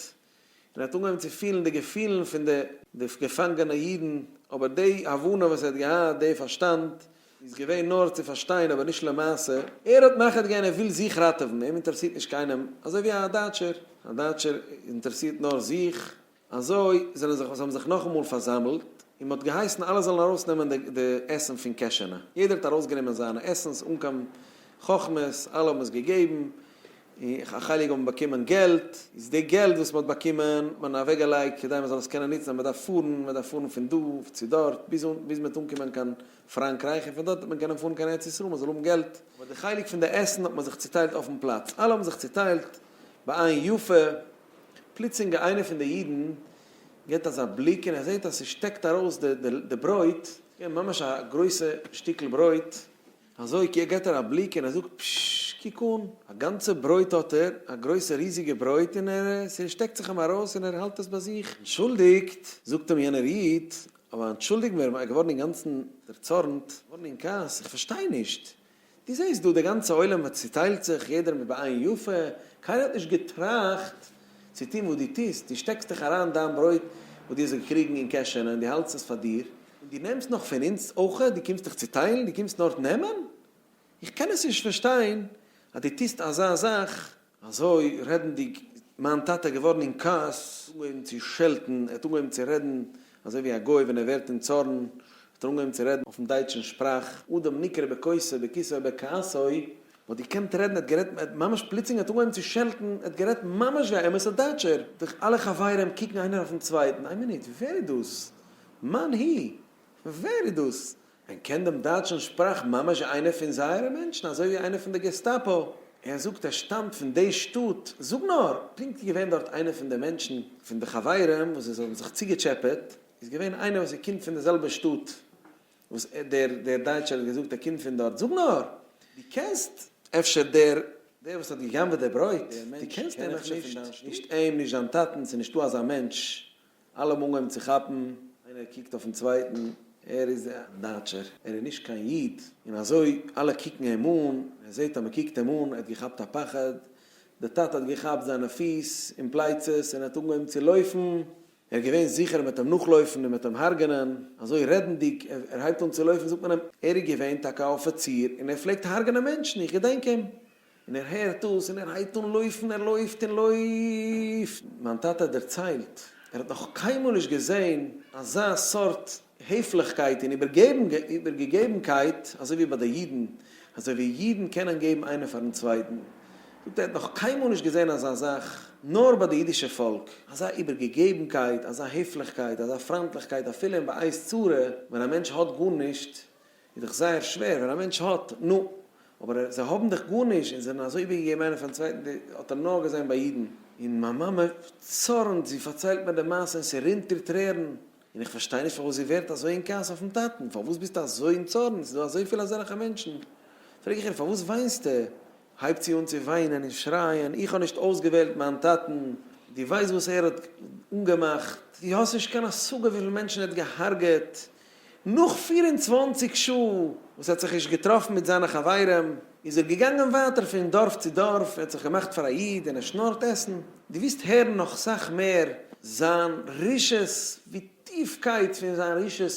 און ער האט אנגעהויבן צו פילן די געפילן פון די די געפאנגענע אידן, אבער די הבנה וואס ער האט געהאט, די פארשטאנד, איז געווען נאר צו פארשטיין אבער נישט למעשה, ער האט מחליט געווען ער וויל זיך ראטעווען, אים אינטערעסירט נישט קיינעם, אזוי ווי א דייטשער, א דייטשער אינטערעסירט נאר זיך, אזוי זענען זיך וואס האבן זיך נאכאמאל פארזאמלט, און מען האט געהייסן אלע זאלן ארויס נעמען די די עסן פון קעשענע, יעדער האט ארויס גענומען זיינע עסנס אן קיין חכמות, אלע האבן עס געגעבן, און א חלק האבן באקומען געלט, איז די געלט וואס מ'האט באקומען האט מען אוועק געלייגט כדי מ'זאל עס קענען נוצן אז מ'דארף פארן, מ'דארף פארן פון דא צו דארט ביז אן ביז מ'וועט אנקומען קיין פראנקרייך און פון דארט וועט מען קענען פארן קיין ארץ ישראל מ'זאל האבן געלט. אבער די חלק פון די עסן האט מען זיך צוטיילט אויפן פלאץ, אלע האבן זיך צוטיילט בעין יפה, פלוצלינג א איינער פון די אידן געט אזא בליק און ער זעט אז ס'שטעקט ארויס די די ברויט, ממש א גרויסע שטיקל ברויט, אזוי קעיר געט ער א בליק און ער זאגט פששש קוק אן, א גאנצע ברויט האט ער, א גרויסע ריזיגע ברויט און ער ס'שטעקט זיך אים ארויס און ער האלט עס ביי זיך, אנטשולדיגט, זאגט אים יענער איד, אבער אנטשולדיג מיר, ער געווארן אינגאנצן דערצארנט, געווארן אין כעס, איך פארשטיי נישט, דו זעסט דא די גאנצע עולם האט צוטיילט זיך, יעדער מיט בעין יפה, קיינער האט נישט געטראכט צו טון וואס דו טוסט, דו שטעקסט דיך אריין דיין ברויט וואס דו האסט געקריגן אין קעשענע און דו האלטסט עס פאר דיר, און דו נעמסט נאך פון אונז אויכעט, דו קומסט דיך צוטיילן, דו קומסט נאר נעמען? איך קען עס נישט פארשטיין אז דו טוסט אזא זאך. אזוי רעדנדיג איז מיין טאטע געווארן אין כעס, ער האט אנגעהויבן צו שעלטן, ער האט אנגעהויבן צו רעדן אזוי ווי א גוי ווען ער ווערט אין צארן, האט ער אנגעהויבן צו רעדן אויפן דייטשן שפראך, אדם נקרא בכעסו בכיסו בכעסו, וואלט געקענט רעדן, ער האט גערעדט ממש פלוצלינג, ער האט אנגעהויבן צו שעלטן, ער האט גערעדט ממש ווי א אמת'ע דייטשער, די אלע חברים קוקן איינער אויפן צווייטן, איין מינוט, ווער איז דאס? מאן הי'? ווער איז דאס? מען קען דעם דייטשן שפראך ממש ווי איינער פון זייערע מענטשן, אזוי ווי איינער פון די געסטאפא. ער זאגט ער שטאמט פון די שטאט, זאג נאר! פונקט איז געווען דארט איינער פון די מענטשן, פון די חברים וואס זיי האבן זיך צוגעטשעפעט, איז געווען איינער וואס ער קומט פון די זעלבע שטאט וואס דער דער דייטשער האט געזאגט ער קומט פון דארט, זאג נאר! דו קענסט אפשר דער דער וואס האט גע'גנב'עט די ברויט? דו קענסט אים אפשר פון דיין שטאט? נישט אים, נישט זיין טאטן, ס'איז נישטא אזא מענטש אלע האבן אנגעהויבן צו כאפן, איינער קוקט אויפן צווייטן, ער איז א דייטשער, ער איז נישט קיין איד, און אזוי אלע קוקן אים אן, ער זעט אז מען קוקט אים אן, ער האט געכאפט א פחד, דער טאטע האט געכאפט זיינע פיס און פלייצעס און ער האט אנגעהויבן צו לויפן, ער איז געווען זיכער אז מען וועט אים נאכלויפן און מען וועט אים הרג'נען, אזוי רעדנדיג, ער הייבט אן צו לויפן זאגט מען אים, ער איז געווען טאקע א אפיציר און ער פלעגט הרג'נען מענטשן, איך געדענק אים, און ער הערט דאס און ער הייבט אן לויפן, ער לויפט און לויפט. מיין טאטע האט דערציילט, ער האט נאך קיינמאל נישט געזען אזא סארט העפליכקייט און איבערגעגעבנקייט אזוי ווי ביי די אידן, אזוי ווי אידן קענען געבן איינער פארן צווייטן. ער זאגט ער האט נאך קיינמאל נישט געזען אזא זאך נאר ביי די אידישע פאלק, אזא איבערגעגעבנקייט, אזא העפליכקייט, אזא פריינטליכקייט אפילו אין בעת צרה ווען א מענטש האט גארנישט איז דאך זייער שווער ווען א מענטש האט, נו, אבער זיי האבן דאך גארנישט און זענען אזוי איבערגעגעבן איינער פארן צווייטן, די האט ער נאר געזען ביי אידן, און מיין מאמע צארנט, זי פארציילט מיר די מעשה און ס'רינט איר טרערן, און איך פארשטיי נישט פארוואס זי ווערט אזוי אין כעס אויפן טאטן, פארוואס ביסטו אזוי אין צארן, ס'איז דא אזויפיל אזעלכע מענטשן, פרעג איך איר פארוואס וויינסטו, הייבט זי אן צו וויינען און שרייען, איך האב נישט אויסגעוועלט מיין טאטן, דו ווייסט וואס ער האט אנגעמאכט, דו האסט נישט קיין השגה וויפיל מענטשן ער האט געהארגעט, נאך פֿיר און צוואַנציק שעה וואס ער האט זיך נישט געטראפן מיט זיינע חברים, איז ער געגאנגען ווייטער פון דארף צו דארף, ער האט זיך געמאכט פאר א איד און ער שנארט עסן, דו וועסט הערן נאך סאך מער זיין רשעות, ווי טיפקייט פון זיין רשעות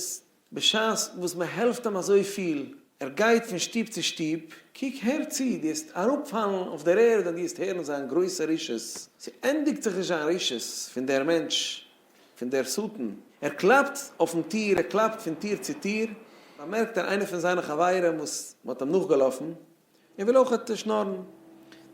בשעת וואס מען העלפט אים אזויפיל, ער גייט פון שטוב צו שטוב, קוק הער צו, דו העסט אראפפאלן אויף דער ערד ווען דו העסט הערן זיין גרויסע רשעות, ס'ענדיגט זיך נישט זיין רשעות פון דער מענטש, פון דער שטן, ער קלאפט אויפן טיר, ער קלאפט פון טיר צו טיר, באמערקט ער איינער פון זיינע חברים וואס מ'האט אים נאכגעלאפן, ער וויל אויכעט שנארן.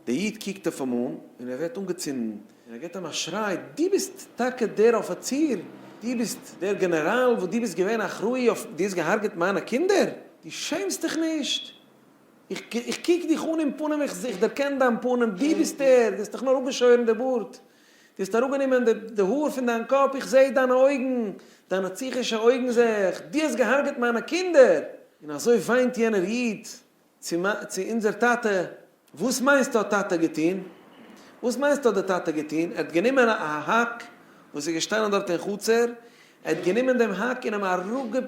דער איד קוקט אויף אים אן און ער ווערט אנגעצינדן און ער גיט אים א שריי, דו ביסט טאקע דער אפיציר? דו ביסט דער גענעראל וואס דו ביסט געווען אחראי אויף? דו האסט געהארגעט מיינע קינדער? דו שעמסט דיך נישט? איך קוק דיך אן אין פנים, איך דערקען דיין פנים, דו ביסט דער? דו האסט דיך נאר אפגעשוירן די בארד, דו האסט אראפגענומען די האר פון דיין קאפ, איך זע דיינע אויגן, דיינע פסיכישע אויגן זע איך, דו האסט געהארגעט מיינע קינדער! און אזוי וויינט יענער איד צו מ, צו אונדזער טאַטע, װאָס מײנסטו האָט טאַטע געטאָן? װאָס מײנסטו האָט דער טאַטע געטאָן? ער האָט גענומען אַ האַק, װאָס איז געשטאַנען דאָרט אין חצר, ער האָט גענומען דעם האַק און אים אַראָפּגע,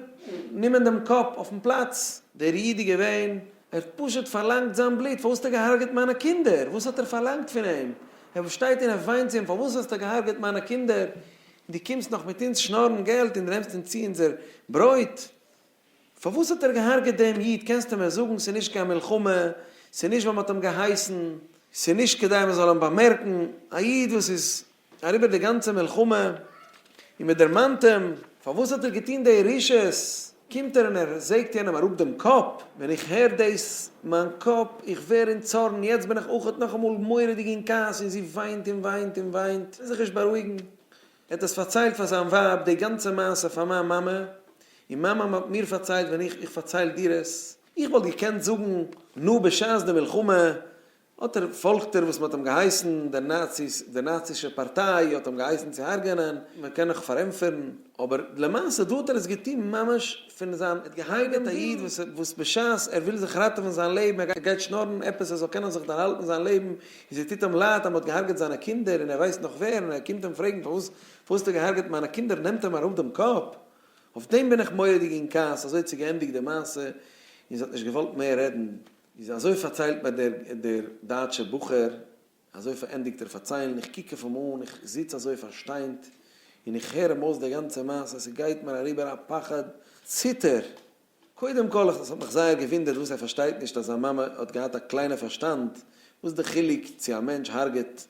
נומען דעם קאָפּ אױפֿן פּלאַץ. דער ייִד איז געװען. ער האָט פּשוט פֿאַרלאַנגט זײַן בלוט. פֿאַרװאָס האָסטו געהרגעט מײַנע קינדער? װאָס האָט ער פֿאַרלאַנגט פֿון אים? ער באַשטײט און ער װײנט צו אים, פֿאַרװאָס האָסטו געהרגעט מײַנע קינדער? און דו קומסט נאָך מיט אונדז שנאָרן געלט און דו נעמסט אונדז צו אונדזער ברױט? פארוואס האט ער געהארגעט דעם איד קענסטו מיר זאגן ס'איז נישט קיין מלחמה ס'איז נישט ווייל מ'האט אים געהייסן ס'איז נישט כדי מ'זאל אים באמערקן א איד וואס איז אריבער די גאנצע מלחמה און מ'דערמאנט אים פארוואס האט ער געטון די רשעות קומט ער און ער זעגט יענעם אראפ דעם קאפ ווען איך הער דאס מיין קאפ איך ווער אין צארן יעצט בין איך אויך נאכאמאל מורא'דיג אין כעס און זי וויינט און וויינט און וויינט זיך נישט בארואיגן. ער האט עס פארציילט פאר זיין ווייב די גאנצע מעשה פאר מיין מאמע, און מיין מאמע האט מיר פארציילט ווען איך איך פארצייל דיר עס, איך וואלט געקענט זאגן נו בשעת די מלחמה האט ער פאלגט ער וואס מען האט אים געהייסן, די נאציס די נאצישע פארטיי האט אים געהייסן צו הרג'ענען, מען קען נאך פארענטפערן, אבער למעשה דא האט ער עס געטון ממש פון זיין ער האט געהארגעט א איד וואס בשעת ער וויל זיך ראטעווען זיין לעבן ער גייט שנארן עפעס ער זאל קענען זיך דערהאלטן זיין לעבן און זי טוט אים לייד אז מען האט געהארגעט זיינע קינדער און ער ווייסט נאך ווער און ער קומט אים פרעגן פארוואס פארוואס האסטו געהארגעט מיינע קינדער נעמט אים אראפ דעם קאפ אויף דעם בין איך מורא דיג אין כעס אזוי האט זי געענדיגט די מעשה און זי האט נישט געוואלט מער רעדן. איז אזוי פארציילט מיר דער דער דייטשער בחור אזוי פארענדיגט ער פארציילן איך קוק אויף אים אן איך זיץ אזוי פארשטיינט און איך הער אים אויס די גאנצע מעשה ס'גייט מיר אריבער א פחד ציטער קודם כל איך האב מיך זייער געווינדערט וואס ער פארשטייט נישט אז זיין מאמע האט געהאט א קליינע פארשטאנד, וואס די חילוק צו א מענטש הארגעט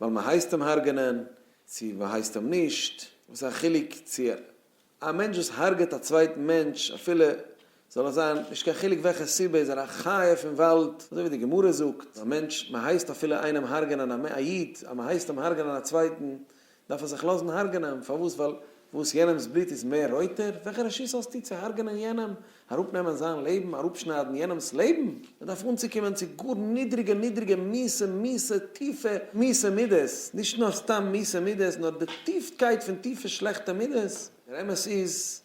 ווייל מען הייסט אים הארגענען, צו מען הייסט אים נישט, וואס א חילוק צו א מענטש וואס הארגעט א צווייטן מענטש אפילו זאל עס זיין נישט קיין חילוק וועלכע סיבה איז ער א חיה פון וואלד, אזוי ווי די גמרא זאגט אז א מענטש מען הייסט אפילו איינעם הארגענען א איד אז מען הייסט אים הארגענען א צווייטן דארף ער זיך לאזן הרג'נען, פארוואס? ווייל וואס? יענעמ'ס בלוט איז מער רויטער? וועלכע רשות האסטו צו הרג'נען יענעם? אראפנעמען זיין לעבן? אראפשניידן יענעמ'ס לעבן? מען דארף אנצוקומען צו גאר נידריגע נידריגע מיסע מיסע טיפע מיסע מידות, נישט נאר סתם מיסע מידות, נאר די טיפקייט פון טיפע שלעכטע מידות. דער אמת איז,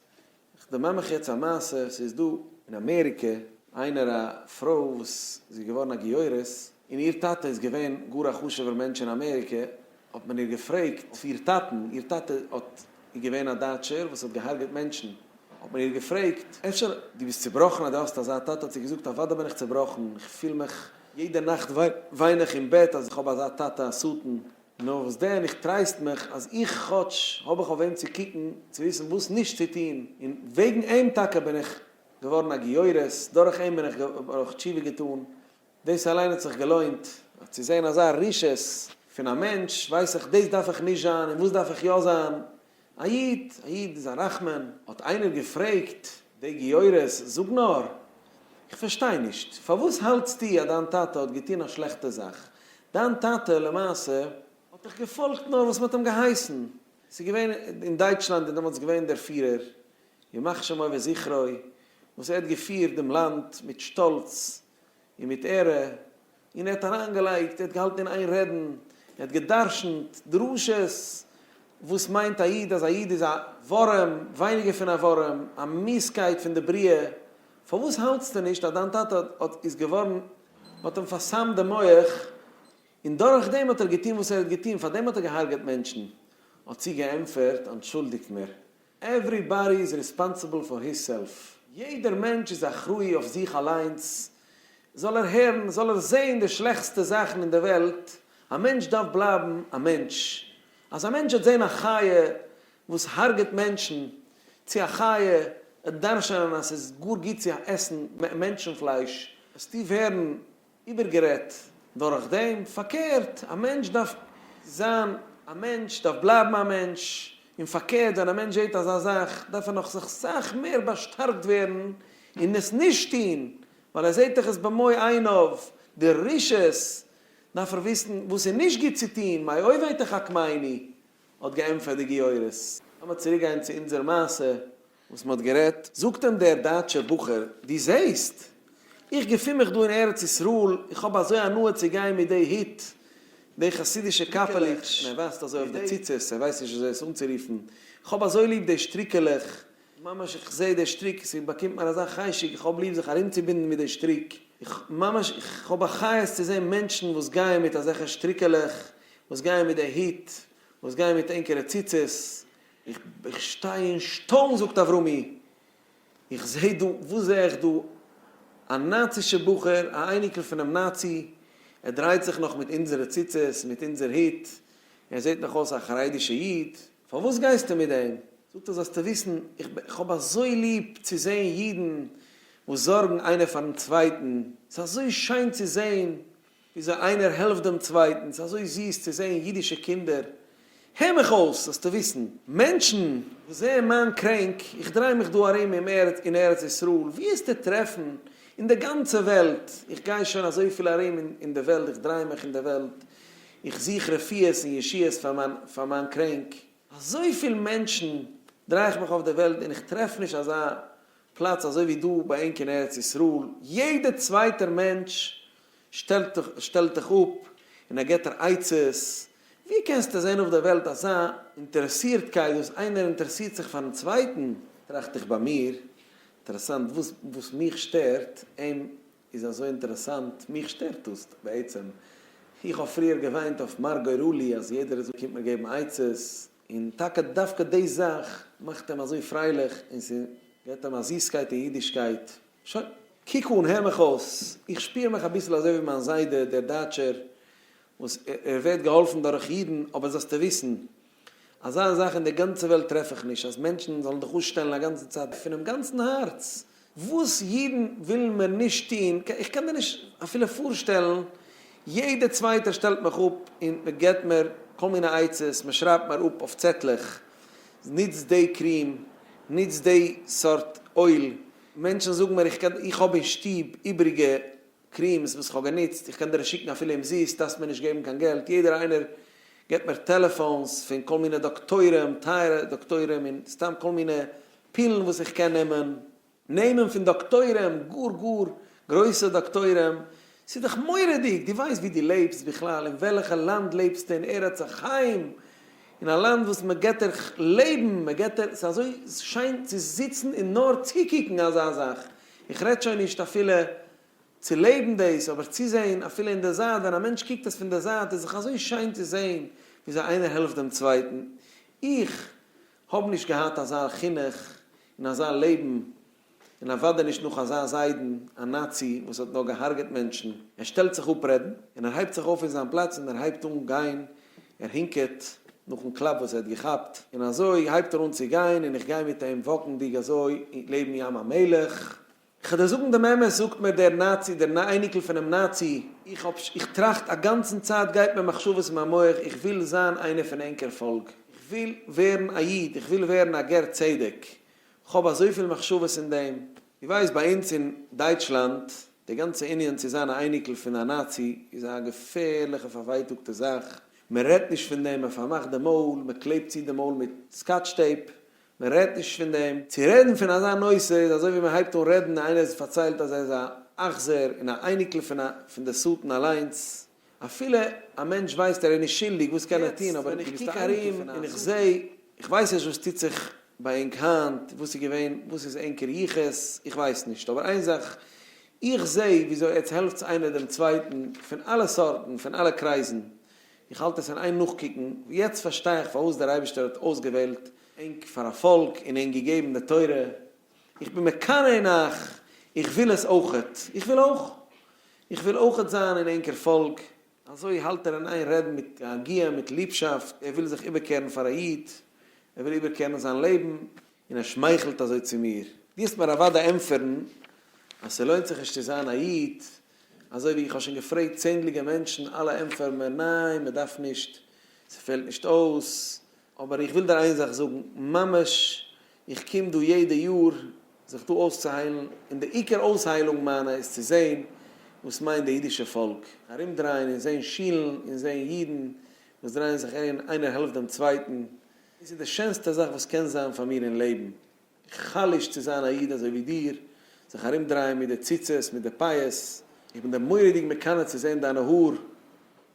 איך דערמאן מיך יעצט א מעשה, ס'איז דא אין אמעריקע איינער א פרוי וואס זי איז געווארן א גיורת, און איר טאטע איז געווען גאר א חשוב'ער מענטש אין אמעריקע, האט מען איר געפרעגט אויף איר טאטן, איר טאטע האט, איז געווען א דייטשער וואס האט געהארגעט מענטשן, האט מען איר געפרעגט, אפשר דו ביסט צובראכן אז דו האסט אזא טאטע, האט זי געזאגט, אוודאי בין איך צובראכן, איך פיל מיך, יעדע נאכט וויין איך אין בעט אז איך האב אזא טאטע א שטן. נאר וואס דען, איך טרייסט מיך אז איך כאטש האב איך אויף וועם צו קוקן צו וויסן וואס נישט צו טון, און וועגן אים טאקע בין איך געווארן א גיורת, דורך אים בין איך האב איך תשובה געטאן, דאס אליין האט זיך געלוינט. אבער צו זען אזא רשעות פון א מענטש, ווייס איך דאס דארף איך נישט זיין און וואס דארף איך יא זיין, א איד, א איד איז א רחמן, האט איינער געפרעגט די גיורות, זאג נאר, איך פארשטיי נישט, פארוואס האלטסטו אז דיין טאטע האט געטון א שלעכטע זאך, דיין טאטע למעשה, האט דאך געפאלגט נאר וואס מען האט אים געהייסן, ס'איז געווען אין דייטשלאנד איז דעמאלטס געווען דער פירער, ימח שמו וזכרו, וואס ער האט געפירט דעם לאנד מיט שטאלץ און מיט עהרע, און ער האט אריינגעלייגט, ער האט געהאלטן אין איין רעדן, ער האט גע'דרש'נט דרשות, וואס מיינט א איד, אז א איד איז א ווארעם, ווייניגער פון א ווארעם, א מיסקייט פון די בריאה, פארוואס האלטסטו נישט אז דיין טאטע האט, איז געווארן, מ'האט אים פאר'סמ'ט די מח, און דורך דעם האט ער געטון וואס ער האט געטון, פאר דעם האט ער גע'הרג'עט מענטשן, האט זי געענטפערט, אנטשולדיגט מיר, עוורי באדי איז ריספאנסיבל פאר היז סעלף, יעדער מענטש איז אחראי אויף זיך אליינס, זאל ער הערן זאל ער זעהן די שלעכסטע זאכן אין די וועלט, א מענטש דארף בלייבן א מענטש, אז א מענטש וועט זעהן א חיה וואס הרג'ט מענטשן, צו א חיה וועט דרשענען אז ס'איז גאר גוט צו עסן מענטשן פלייש, וועסטו ווערן איבערגערעדט דורך דעם, פארקערט, א מענטש דארף זיין א מענטש, דארף בלייבן א מענטש, און פארקערט ווען א מענטש זעט אזא זאך דארף ער נאך זיך סאך מער באשטארקט ווערן און עס נישט טון, ווייל ער זעט דאך עס במו עיניו, די רשות, דארף ער וויסן וואס איז נישט גוט צו טון, מאי אויביתא חכמיני האט געענטפערט די גיורת. לאמיר צוריק גיין צו אונזער מעשה. וואס מ'האט גערעדט, זאגט אים דער דייטשער בחור, דו זעהסט? איך געפין מיך דא אין ארץ ישראל, איך האב אזוי הנאה צו גיין מיט די היט, די חסידישע קאפעלעך, מען ווייזט אזוי אויף די ציצית, ער ווייסט נישט וויאזוי עס אנצורופן, איך האב אזוי ליב די שטריקעלעך, ממש איך זעה די שטריק, ס'באקומט מיר אזא חשק, איך האב ליב זיך ארומצובינדן מיט די שטריק, איך ממש איך האב א חיות צו זעהן מענטשן וואס גייען מיט אזעלכע שטריקעלעך, וואס גייען מיט די היט, וואס גייען מיט ענקערע ציצית, איך שטיי אין שטוין זאגט אברומי, איך זע דא, וואס זע איך דא, א נאצישע בחור, א אייניקל פונעם נאצי, ער דרייט זיך נאך מיט אונזערע ציצית, מיט אונזער הוט, ער זעט נאך אויס א חרדישע איד, פארוואס גייסטו מיט דעם? זאגט ער זאלסטו וויסן, איך האב אזוי ליב צו זען אידן וואס זארגן איינער פארן צווייטן, ס'איז אזוי שיין צו זען, וויאזוי איינער העלפט דעם צווייטן, ס'איז אזוי זיס צו זען אידישע קינדער, הער מיך אויס זאלסטו וויסן, מענטשן וואס זעען מיין קרענק, איך דריי מיך דא ארום אין ארץ ישראל, ווי העסטו טרעפן אין די גאנצע וועלט, איך גיי שוין אזויפיל ארום אין די וועלט, איך דריי מיך אין די וועלט, איך זוך רפואות און ישועות פאר מיין קרענק, אזויפיל מענטשן דריי איך מיך אויף די וועלט און איך טרעף נישט אזא פלאץ אזוי ווי דא ביי ענק אין ארץ ישראל, יעדער צווייטער מענטש שטעלט דיך אפ און ער געט דיר עצות, ווי קענסטו זען אויף דער וועלט אזא אינטערעסירטקייט וואס איינער אינטערעסירט זיך פארן צווייטן? טראכט איך ביי מיר, אינטערעסאנט, דאס וואס מיך שטערט אים איז אזוי אינטערעסאנט, מיך שטערט דאס בעצם, איך האב פריער געוויינט אויף מר גורלי אז יעדער אזוי קומט מיר געבן עצות, און טאקע דווקא די זאך מאכט אים אזוי פרייליך און ס'געט אים א זיסקייט אין אידישקייט. שוין, קוק אן, הער מיך אויס, איך שפיר מיך אביסל אזוי ווי מיין זיידע דער דייטשער, וואס ער ווערט געהאלפן דורך אידן, אבער זאלסטו וויסן, אזא זאך אין די גאנצע וועלט טרעף איך נישט, אז מענטשן זאלן דיך אויסשטעלן א גאנצע צייט פונעם גאנצן הארץ, וואס אידן ווילן מער נישט טון, איך קען דיר נישט אפילו פארשטעלן, יעדע צווייטער שטעלט מיך אפ און מען געבט מיר כל מיני עצות, מען שרייבט מיר אפ אויף צעטלעך, נוץ די קריעם, נוץ די סארט אויל, מענטשן זאגן מיר איך קען איך האב אין שטוב איבעריגע קריעמס וואס איך האב גענוצט, איך קען דיר עס שיקן אפילו אומזיסט, דארפסט מיר נישט געבן קיין געלט, יעדער איינער געבט מיר טעלעפאנס פון כל מיני דאקטוירים, טייערע דאקטוירים און סתם כל מיני פילן וואס איך קען נעמען נעמען פון דאקטוירים, גאר גאר גרויסע דאקטוירים, ס'איז דאך מורא'דיג, דו ווייסט ווי דו לעבסט בכלל, אין וועלעכע לאנד לעבסטו אין ארץ החיים, אין א לאנד וואס מען געט דיר לעבן, מען געט דיר, ס'איז אזוי שיין צו זיצן און נאר צוקוקן אזא זאך, איך רעד שוין נישט אפילו צו לעבן דאס, אבער צוזען אפילו אין די זייט, ווען א מענטש קוקט עס פון די זייט איז דאך אזוי שיין צו זען וויאזוי איינער העלפט דעם צווייטן, איך האבן נישט געהאט אזא חינוך און אזא לעבן, און אוודאי נישט נאך אזא זיידן, א נאצי וואס האט נאר געהארגעט מענטשן. ער שטעלט זיך אפ רעדן, און ער הייבט זיך אויף פון זיין פלאץ און ער הייבט אן גיין, ער הינקעט נאכן קלאפ וואס ער האט געכאפט, און אזוי הייבט ער אן צו גיין און איך גיי מיט אים וואקנדיג אזוי לעבן ים המלח, כ'על דיר זאגן דעם אמת, זאגט מיר דער נאצי, דער אייניקל פונעם נאצי, איך האב, איך טראכט א גאנצן צייט, גייט מיר מחשבות אין מיין מח, איך וויל זיין איינער פון ענקער פאלק, איך וויל ווערן א איד, איך וויל ווערן א גר צדק, כ'האב אזויפיל מחשבות אין דעם. דו ווייסט ביי אונז אין דייטשלאנד, די גאנצע ענין צו זיין א אייניקל פון א נאצי, איז א געפערליכע פארווייטאגטע זאך, מען רעדט נישט פון דעם, מען פארמאכט די מויל, מען קלעבט צו די מויל מיט סקאטש טעיפ, מען רעדט נישט פון דעם. צו רעדן פון אזא נושא איז אזוי ווי מען הייבט אן רעדן און איינער האט פארציילט אז ער איז א אכזר און א אייניקל פון א פון די שטן אליינס, אפילו א מענטש ווייסט ער איז נישט שולדיג וואס קען ער טון אבער ווען איך קוק ארום און איך זעה, איך ווייס נישט וואס טוט זיך ביי ענק היינט, וואס איז געווען, וואס איז ענקער יחוס, איך ווייס נישט, אבער איין זאך, איך זעה וויאזוי עטס העלפטס איינער דעם צווייטן פון אלע סארטן, פון אלע קרייזן, איך האלט עס אין איין נאכקוקן, ווי יעצט פארשטיי איך פארוואס דער אייבערשטער האט אויסגעוועלט ענק פאר א פאלק און ענק געגעבן די תורה, איך בין מקנא אין אייך, איך וויל עס אויכעט, איך וויל אויך, איך וויל אויכעט זיין אין ענקער פאלק. אזוי האלט ער אין איין רעדן מיט א הגייה מיט ליבשאפט, ער וויל זיך איבערקערן פאר א איד, ער וויל איבערקערן זיין לעבן, און ער שמייכלט אזוי צו מיר, דו האסט מיר אוודאי ענטפערן אז ס'לוינט זיך נישט צו זיין א איד, אזוי ווי איך האב שוין געפרעגט צענדליגע מענטשן אלע ענטפערן מיר ניין מען דארף נישט ס'פעלט נישט אויס, אבער איך וויל דיר איין זאך זאגן ממש איך קום דא יעדע יאר זיך דא אויסצוהיילן און די עיקר אויסהיילונג מיינע איז צו זען וואס מיינט די אידישע פאלק ארומדרייען און זען שילן און זען אידן וואס דרייען זיך ארום איינער העלפט דעם צווייטן דאס איז די שענסטע זאך וואס קען זיין פאר מיר אין לעבן. איך חלוש צו זיין א איד אזוי ווי דיר, זיך ארום דרייען מיט די ציצית, מיט די פאות, איך בין דיר מורא'דיג מקנא צו זען דיינע האר.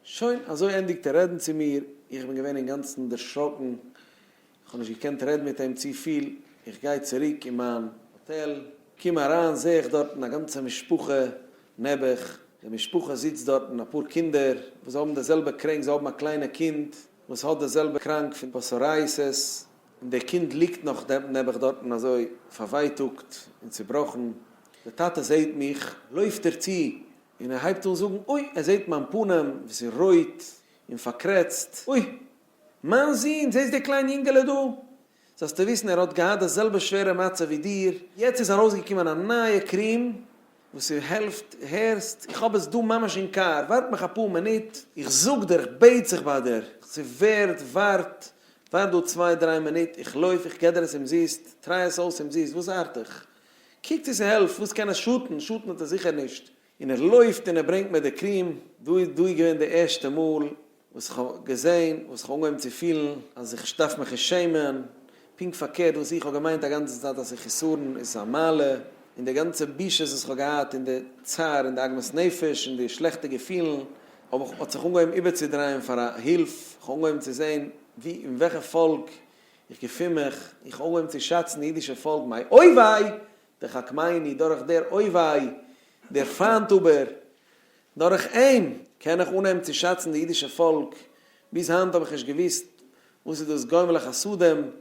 שוין, אזוי ענדיגט ער רעדן צו מיר, איך בין געווען אינגאנצן דערשראקן, איך האב נישט געקענט רעדן מיט אים צו פיל, איך גיי צוריק אין מיין האטעל, קום אריין זעה איך דארטן א גאנצע משפחה נעבעך, די משפחה זיצט דארטן, אפאר קינדער וואס האבן די זעלבע קרענק, זיי האבן א קליינע קינד וואס האט די זעלבע קראנק פון פסארייסעס, און דער קינד ליגט נאך נעבעך דארטן אזוי פארווייטאגט און צובראכן, דער טאטע זעהט מיך לויפט ער צו און ער הייבט אן זאגן אוי ער זעהט מיין פנים וואס איז רויט און פארקרעצט, אוי מיין זון זעסט די קליין יונגעלע דא? זאלסטו וויסן ער האט געהאט די זעלבע שווערע מצב ווי דיר, יעצט איז ארויסגעקומען א נייע קריעם, וואס איר העלפט, הערסט, איך האב עס דא ממש אין קאר, ווארט מיך אפאר מינוט, איך זאג דיר, איך בעט זיך ביי דיר, איך זאג, ווערד, ווארט, ווארט דא צוויי דריי מינוט, איך לויף, איך גיב דיר עס אומזיסט, טריי עס אויס אומזיסט, וואס ארט איך? קוק צו ס'העלפט, וואס קען עס שאטן, שאטן האט עס זיכער נישט. און ער לויפט און ער ברענגט מיר די קריעם, דא איז געווען די ערשטע מאל וואס איך האב געזען, וואס איך האב אנגעהויבן צו פילן אז איך דארף מיך נישט שעמען, פונקט פארקערט וואס איך האב געמיינט א גאנצע צייט אז חסרון איז א מעלה, און די גאנצע בושות וואס איך האב געהאט און די צער און די עגמת נפש און די שלעכטע געפילן האב איך האט זיך אנגעהויבן איבערצודרייען פאר א הילף, איך האב אנגעהויבן צו זען ווי אין וועלכע פאלק איך געפין מיך, איך האב אנגעהויבן צו שאצן די אידישע פאלק מיי אוי וויי, דחק מעיני דורך דער אוי וויי, דער פיינט אבער דורך אים קען איך אנהייבן צו שאצן די אידישע פאלק, ביז היינט האב איך נישט געוואוסט וואס איז דאס גומל החסדים,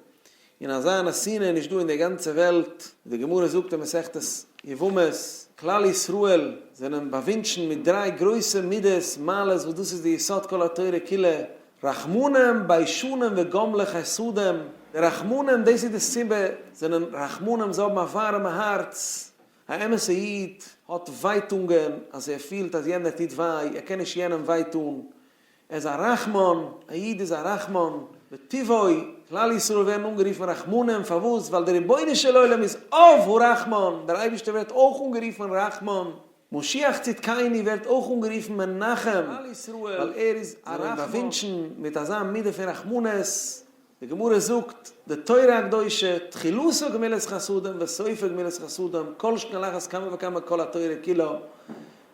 און אזא אנא שנאה איז נישט דא אין די גאנצע וועלט, ווי די גמרא זאגט אין מסכת יבמות, כלל ישראל זענען באווינטשן מיט דריי גרויסע מידות, מעלות, וואס דאס איז די יסוד כל התורה כולה, רחמנים, ביישנים וגומלי חסדים, די רחמנים דאס איז די סיבה זענען רחמנים, זיי האבן א ווארעמע הארץ, א אמת'ע איד האט ווייטונגען אז ער פילט אז יענער טוט וויי, ער קען נישט יענעם וויי טון, ער איז א רחמן, א איד איז א רחמן בטבעו, כלל ישראל ווערן אנגערופן רחמנים, פארוואס? ווייל דער רבונו של עולם איז אב הרחמן, דער אייבערשטער ווערט אויך אנגערופן רחמן, משיח צדקינו ווערט אויך אנגערופן מנחם, ווייל ער איז א רחמן, זיי ווערן באווינטשן מיט אזא מידה פון רחמנות. די גמרא זאגט, די תורה הקדושה, תחילתה גמילות חסדים וסופה גמילות חסדים, כל שכן על אחת כמה וכמה כל התורה כולה.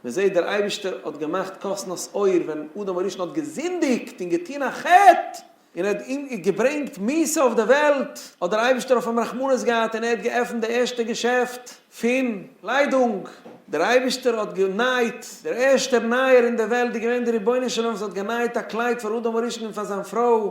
מען זעט דער אייבערשטער האט געמאכט קאסנא'ס אויער ווען אדם הראשון האט געזינדיגט און געטון א חטא, און ער האט אים געברענגט מיתה אויף דער וועלט, האט דער אייבערשטער אויף אים רחמנות געהאט און ער האט געעפנט די ערשטע געשעפט פון ליידונג. דער אייבערשטער האט גענייט, דער ערשטער נייער אין דער וועלט איז געווען דער רבונו של עולם וואס האט גענייט א קלייד פאר אדם הראשון און פאר זיין פרוי,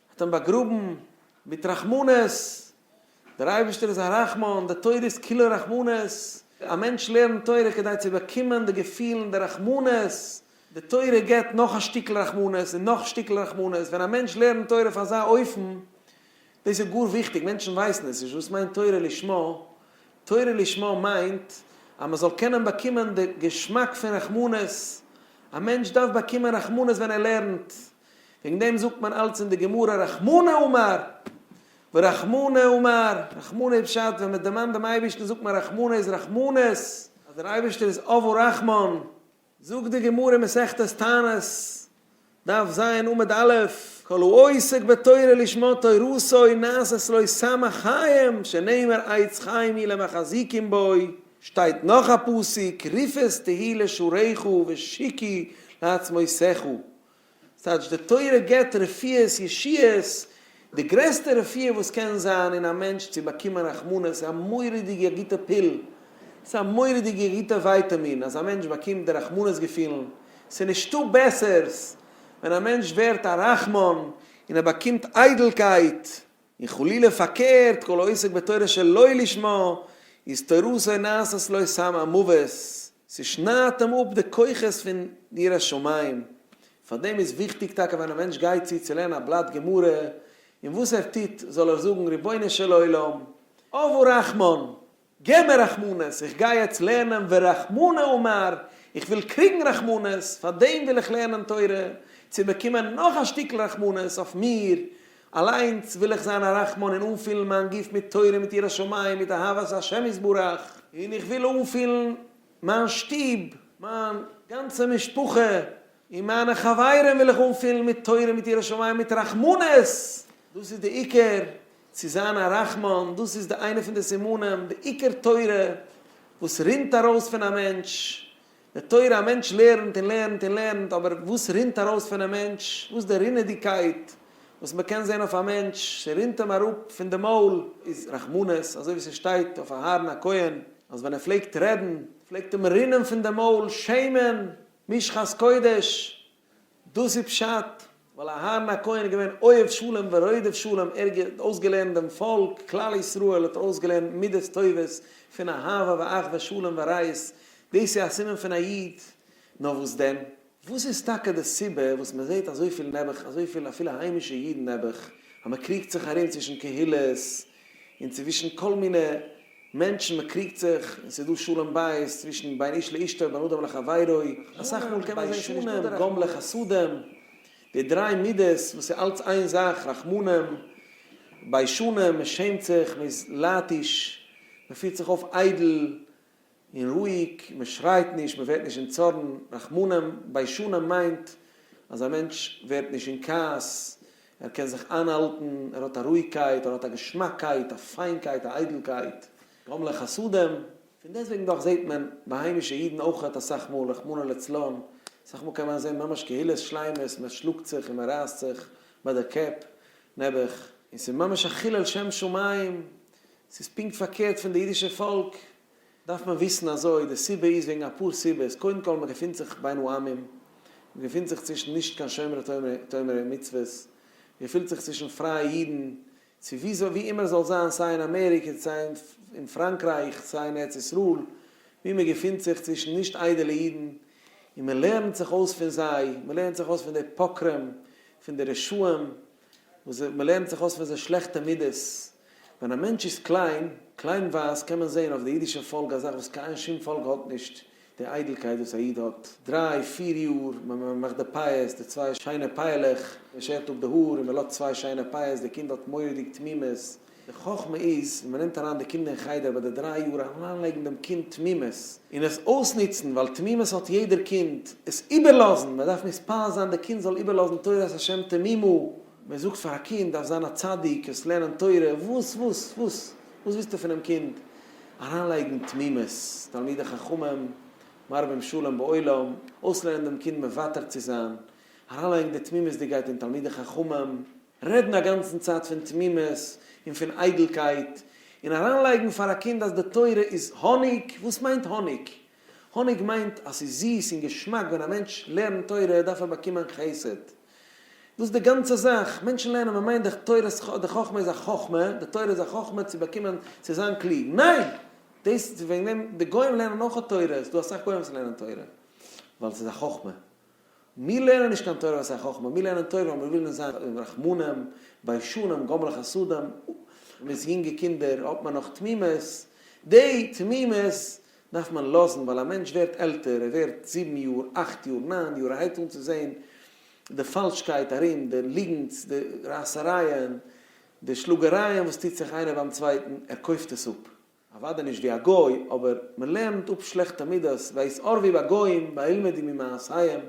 האט אים באגראבן מיט רחמנות, דער אייבערשטער איז א רחמן, די תורה איז כולה רחמנות, א מענטש לערנט תורה כדי צו באקומען די געפיל און די רחמנות, די תורה געבט נאך א שטיקל רחמנות און נאך שטיקל רחמנות, ווען א מענטש לערנט תורה אויף אזא אופן, דאס איז גאר וויכטיג, מענטשן ווייסן עס נישט, וואס מיינט תורה לשמה, תורה לשמה מיינט אז מען זאל קענען באקומען די געשמאק פון רחמנות, א מענטש דארף באקומען רחמנות ווען ער לערנט, וועגן דעם זאגט מען אלץ אין די גמרא רחמנא אמר ורחמנא אמר, רחמנא איז פשט ווען מען דערמאנט דעם אייבערשטן זאגט מען רחמנא איז רחמנות, אז דער אייבערשטער איז אב הרחמן, זאגט די גמרא אין מסכת תענית, דף ז עמוד א', כל העוסק בתורה לשמה תורתו נעשית לו שמח חיים, שנאמר עץ חיים היא למחזיקין בו, שטייט נאך א פסוק, ריפעס תהי לשורעיך ושיקי לעצמותיך, ס'טייטש די תורה געבט רפואות ישירות, די גרעסטע רפואה וואס קען זיין אין א מענטש צו באקומען רחמנות, א מורא'דיגע גוטע פיל, ס'א מורא'דיגע גוטע ווייטעמין אז א מענטש באקומט די רחמנות געפילן, ס'נישטא בעסערס ווען א מענטש ווערט א רחמן און ער באקומט איידלקייט און חלילה פארקערט, כל העוסק בתורה שלא לשמה, איז תורתו נעשית לו סם המוות, ס'שניידט אים אפ די כוחות פון די יראת שמים. פאר דעם איז וויכטיג טאקע ווען א מענטש גייט צו צו לערנען א בלאט גמרא, און וואס ער טוט, זאל ער זאגן, רבונו של עולם, אב ורחמן, געב מיר רחמנות, איך גיי יעצט לערנען ורחמנא אומר, איך וויל קריגן רחמנות, פאר דעם וויל איך לערנען תורה, צו באקומען נאך א שטיקל רחמנות אויף מיר אליינס, וויל איך זיין א רחמן און אנפילן מיין גוף מיט תורה מיט יראת שמים מיט אהבת השם יתברך, און איך וויל אנפילן מיין שטוב, מיין גאנצע משפחה און מיינע חברים וויל איך אנפילן מיט תורה מיט יראת שמים מיט רחמנות, דאס איז די עיקר, צו זיין א רחמן, דאס איז די איינע פון די סימנים, די עיקר תורה וואס רינט ארויס פון א מענטש, די תורה א מענטש לערנט און לערנט און לערנט, אבער וואס רינט ארויס פונעם מענטש, וואס די רינעדיגקייט וואס מען קען זען אויף א מענטש, ס'רינט אים אראפ פון די מויל, איז רחמנות, אזוי ווי ס'שטייט אויף אהרן הכהן, אז ווען ער פלעגט רעדן, פלעגט אים רינען פון די מויל שמן, משחת קודש, דאס איז פשט, ווייל אהרן הכהן איז געווען אוהב שלום ורודף שלום, ער האט אויסגעלערנט דעם פאלק, כלל ישראל האט ער אויסגעלערנט מידות טובות פון אהבה ואחווה שלום ורעות, דאס איז א סימן פון א איד, נאר וואס דען? וואס איז טאקע די סיבה וואס מען זעט אזויפיל נעבעך, אזויפיל אפילו היימישע אידן נעבעך, אז מען קריגט זיך ארום צווישן קהילות, און צווישן כל מיני מענטשן, מען קריגט זיך, און ס'איז דא שלום בית צווישן בין איש לאשתו, בין אדם לחבירו, אסאך מאל קען מען זען ס'איז נישט דא די רחמנות, גומלי חסדים, די דריי מידות וואס איז אלץ איין זאך, רחמנים, ביישנים, מען שעמט זיך, מען איז לייטיש, מען פירט זיך אויף איידל, און רואיג, מען שרייט נישט, מען ווערט נישט אין צארן, רחמנא ביישנא מיינט אז א מענטש ווערט נישט אין כעס, ער קען זיך איינהאלטן, ער האט א רואיגקייט, ער האט א געשמאקקייט, א פיינקייט, א איידלקייט, גורם לחסדים. פון דעסטוועגן דאך זעט מען ביי היימישע אידן אויכעט אסאך מאל, רחמנא לצלן, אסאך מאל קען מען זען ממש קהילות שלימות, מען שלאגט זיך און מען רייסט זיך ביי די קעפ, נעבעך, און ס'איז ממש א חילול שם שמים, ס'איז פונקט פארקערט פון די אידישע פאלק, דארף מען וויסן אזוי, די סיבה איז וועגן אפאר סיבות, קודם כל מען געפינט זיך בין העמים, מען געפינט זיך צווישן נישט קיין שומרי תורה ומצוות, מען געפילט זיך צווישן פרייע אידן, צו ווי אזוי ווי אימער זאל זיין סיי אין אמעריקע סיי אין פראנקרייך סיי אין ארץ ישראל, ווי מען געפינט זיך צווישן נישט איידעלע אידן, און מען לערנט זיך אויס פון זיי, מען לערנט זיך אויס פון די פוקרים, פון די רשעים, וואס זיי, מען לערנט זיך אויס פון זיי שלעכטע מידות. ווען א מענטש איז קליין, קליינווייז, קען מען זען אויף די אידישע פאלק א זאך וואס קיין שום פאלק האט נישט, די איידלקייט וואס א איד האט, דריי פיר יאר, מען מאכט די פאות, די צוויי שיינע פייעלעך, מען שערט אפ די האר און מען לאזט צוויי שיינע פאות, די קינד האט מורא'דיג תמימות, די חכמה איז ווען מ'נעמט אריין די קינדער אין חדר ביי די דריי יאר אריינלייגן דעם קינד תמימות און עס אויסנוצן ווייל תמימות האט יעדער קינד, עס איבערלאזן, מען דארף מתפלל זיין די קינד זאל איבערלאזן תורת השם תמימה, מען זאגט פאר א קינד דארף זיין א צדיק, עס לערנען תורה, וואס וואס וואס וואס ווילסטו פונעם קינד? אריינלייגן תמימות, תלמידי חכמים מרבים שלום בעולם, אויסלערנען דעם קינד מוותר צו זיין, אריינלייגן די תמימות'דיגקייט אין תלמידי חכמים. רעדן א גאנצן צייט פון תמימות און פון איידלקייט, און אריינלייגן פאר א קינד אז די תורה איז האניג, וואס מיינט האניג? האניג מיינט אז ס'איז זיס און געשמאק, ווען א מענטש לערנט תורה דארף ער באקומען חסד, דאס די גאנצע זאך, מענטשן לערנען מען מיינט די תורת ח די חכמה איז א חכמה, די תורה איז א חכמה צו באקומען צו זיין קלוג, ניין! דאס וועגן דעם די גוים לערנען אויך תורה, ס'דא אסאך גוים וואס לערנען תורה, ווייל ס'איז א חכמה, מיר לערנען נישט קיין תורת החכמה, מיר לערנען תורה ווייל מיר ווילן זיין רחמנים, ביישנים, גומלי חסדים, מיט יונגע קינדער האט מען נאך תמימות, די תמימות דארף מען לאזן, ווייל א מענטש ווערט עלטער, ער ווערט זיבן יאר, אכט יאר, ניין יאר, ער הייבט אן צו זען די פאלשקייט ארום, די ליגנטס, די רייסערייען, די שלאגערייען וואס טוט זיך איינער ביים צווייטן, ער קויפט עס אפ. אוודאי נישט ווי א גוי, אבער מען לערנט אפ שלעכטע מידות, ויעש ערבי בגוים, וילמדו ממעשיהם,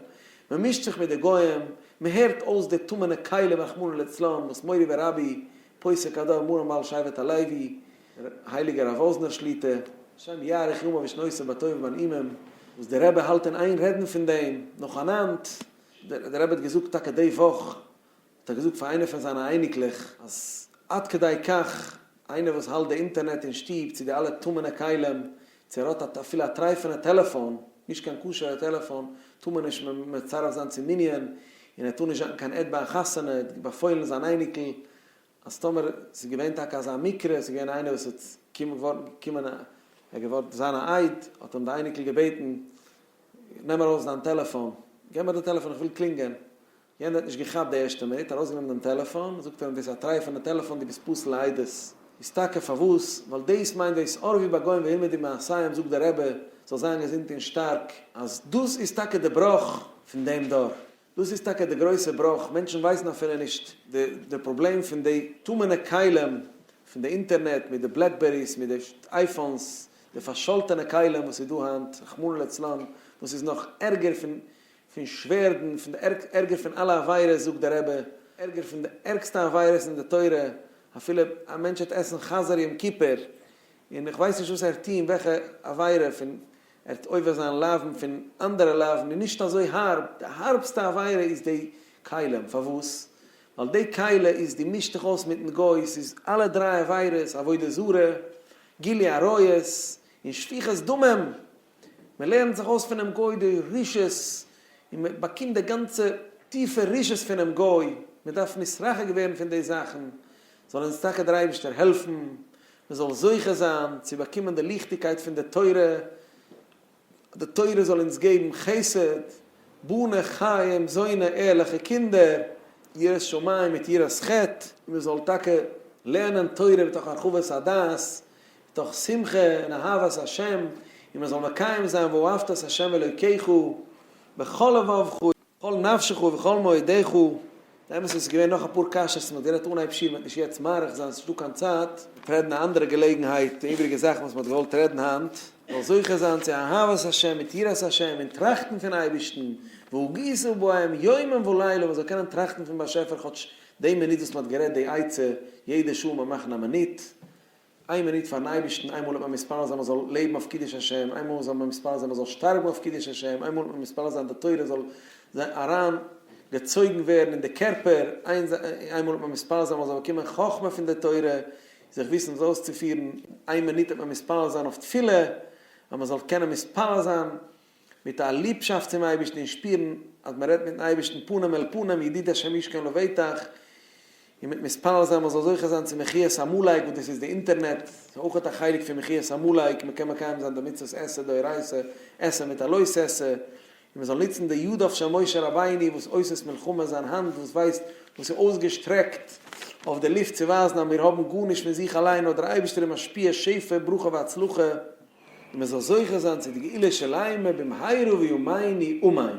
מען מישט זיך מיט די גוים, מען הערט אויס די טמא'נע כלים רחמנא לצלן וואס מורי ורבי, פוסק הדור מרן בעל שבט הלוי, דער הייליגער רב וואזנער שליטא, השם יאריך ימיו ושנותיו בטוב ובנעימים, וואס דער רבי האלט אין איין רעדן פון דעם, נאכאנאנד, דער רבי האט געזאגט טאקע די וואך, האט ער געזאגט פאר איינע פון זיינע אייניקלעך אז עד כדי כך איינער וואס האלט די אינטערנעט אין שטוב צו די אלע טמא'נע כלים צו ער האט א אפילו א טרייפענע טעלעפאן נישט קיין כשר'ע טעלעפאן טאר מען נישט מצרף זיין צום מנין און ער טאר נישט זשאקן קיין עד ביי א חתונה ער האט באפוילן זיין אייניקל אז טאמער ס'איז געווען טאקע אזא מקרה ס'איז געווען איינער וואס איז געווארן געקומען ער איז געווארן זיין א עד האט אים די אייניקל געבעטן נעם ארויס דיין טעלעפאן געב מיר די טעלעפאן איך וויל קלינגען יענער האט נישט געכאפט די ערשטע מינוט, ארויסגענומען דעם טעלעפאן, זאגט ער אים דאס איז א טרייפענע טעלעפאן דו ביסט פסול לעדות, איז טאקע פארוואס? ווייל דאס מיינט דאס אור ווי ביי גוים והלמדי מעשיהם זאגט דער רבי זאל זיין געזונט און שטארק אז דאס איז טאקע די בראך פון דעם דור, דאס איז טאקע די גרויסע בראך, מענטשן ווייסן אפילו נישט די פראבלעם פון די טמא'נע כלים פון די אינטערנעט מיט די בלעקבעריס מיט די אייפאנס, די פארשאלטענע כלים וואס איז דא היינט רחמנא לצלן וואס איז נאך ערגער פון פון שווערדן, פון די ערג, ערגער פון אלע עבירות, זאגט דער רבי, ערגער פון די ערגסטע עבירות אין די תורה, אפילו א מענטש וועט עסן חזיר יום כיפור, און איך ווייס נישט וואס ער וועט טון, וועלכע עבירה, פון ער וועט עובר זיין לאוו'ן פון אנדערע לאוו'ן איז נישט אזוי הארב, די הארבסטע עבירה איז די כלים, פארוואס? ווייל די כלי איז דו מישט דיך אויס מיטן גוי, ס'איז אלע דריי עבירות, עבודה זרה, גילוי עריות, און שפיכת דמים, מען לערנט זיך אויס פונעם גוי די רישות, און מען באקומט די גאנצע טיפע רישות פונעם גוי, מען דארף נתרחק ווערן פון די זאכן, זאל אונז טאקע דער אייבערשטער העלפן מען זאל זוכה זיין צו באקומען די ליכטיגקייט פון די תורה, די תורה זאל אונז געבן חסד, בנה חיים, זוינע ערליכע קינדער, יראת שמים מיט יראת חטא, און מען זאל טאקע לערנען תורה מתוך הרחבת הדעת, און דורך שמחה און אהבת השם, און מען זאל מקיים זיין ואהבת את ה' אלוקיך בכל לבבך ובכל נפשך ובכל מאודך, די אמת איז געווען נאך אפאר קשיות, מען האט גערעדט אנהייב שיעור, מען וועט נישט יעצט מאריך זיין, ס'נישט דא קיין צייט, מען וועט רעדן א אנדערע געלעגנהייט די איבריגע זאכן וואס מען האט געוואלט רעדן היינט, מען זאל זוכה זיין צו אהבת השם מיט יראת השם און טראכטן פון אייבערשטן, והגיסו בהם יומם ולילה, מען זאל קענען טראכטן פון באשעפער כאטש די מינוט וואס מען האט גערעדט די עצה, יעדע שעה מען מאכן א מינוט, איין מינוט פארן אייבערשטן, איינמאל האט מען מתפלל זיין מען זאל לעבן אויף קידוש השם, איינמאל זאל מען מתפלל זיין מען זאל שטארבן אויף קידוש השם, איינמאל האט מען מתפלל זיין די תורה זאל זיין אריין געצויגן ווערן אין די קערפער, איינמאל האט מען מתפלל זיין מען זאל באקומען חכמה פון די תורה, זיך וויסן עס אויסצופירן, איין מינוט האט מען מתפלל זיין אויף תפילה, אז מען זאל קענען מתפלל זיין מיט א ליבשאפט צום אייבערשטן און שפירן אז מען רעדט מיטן אייבערשטן פנים אל פנים ידיד השם ישכון לבטח, און מיט מתפלל זיין מען זאל זוכה זיין צו מחיית עמלק וואס דאס איז די אינטערנעט, ס'איז אויך א חלק פון מחיית עמלק, מען קען מקיים זיין די מצוות עשה דאורייתא, עשה מיט א לא תעשה, און מען זאל נוצן די ידיו של משה רבינו וואס עושות מלחמה זיין האנט וואס ווייזט וואס איז אויסגעשטרעקט אויף די לופט צו ווייזן אז מיר האבן גארנישט פון זיך אליין נאר דער אייבערשטער איז משפיע שפע ברכה והצלחה. און מען זאל זוכה זיין צו די גאולה שלימה במהרה וימינו אמן.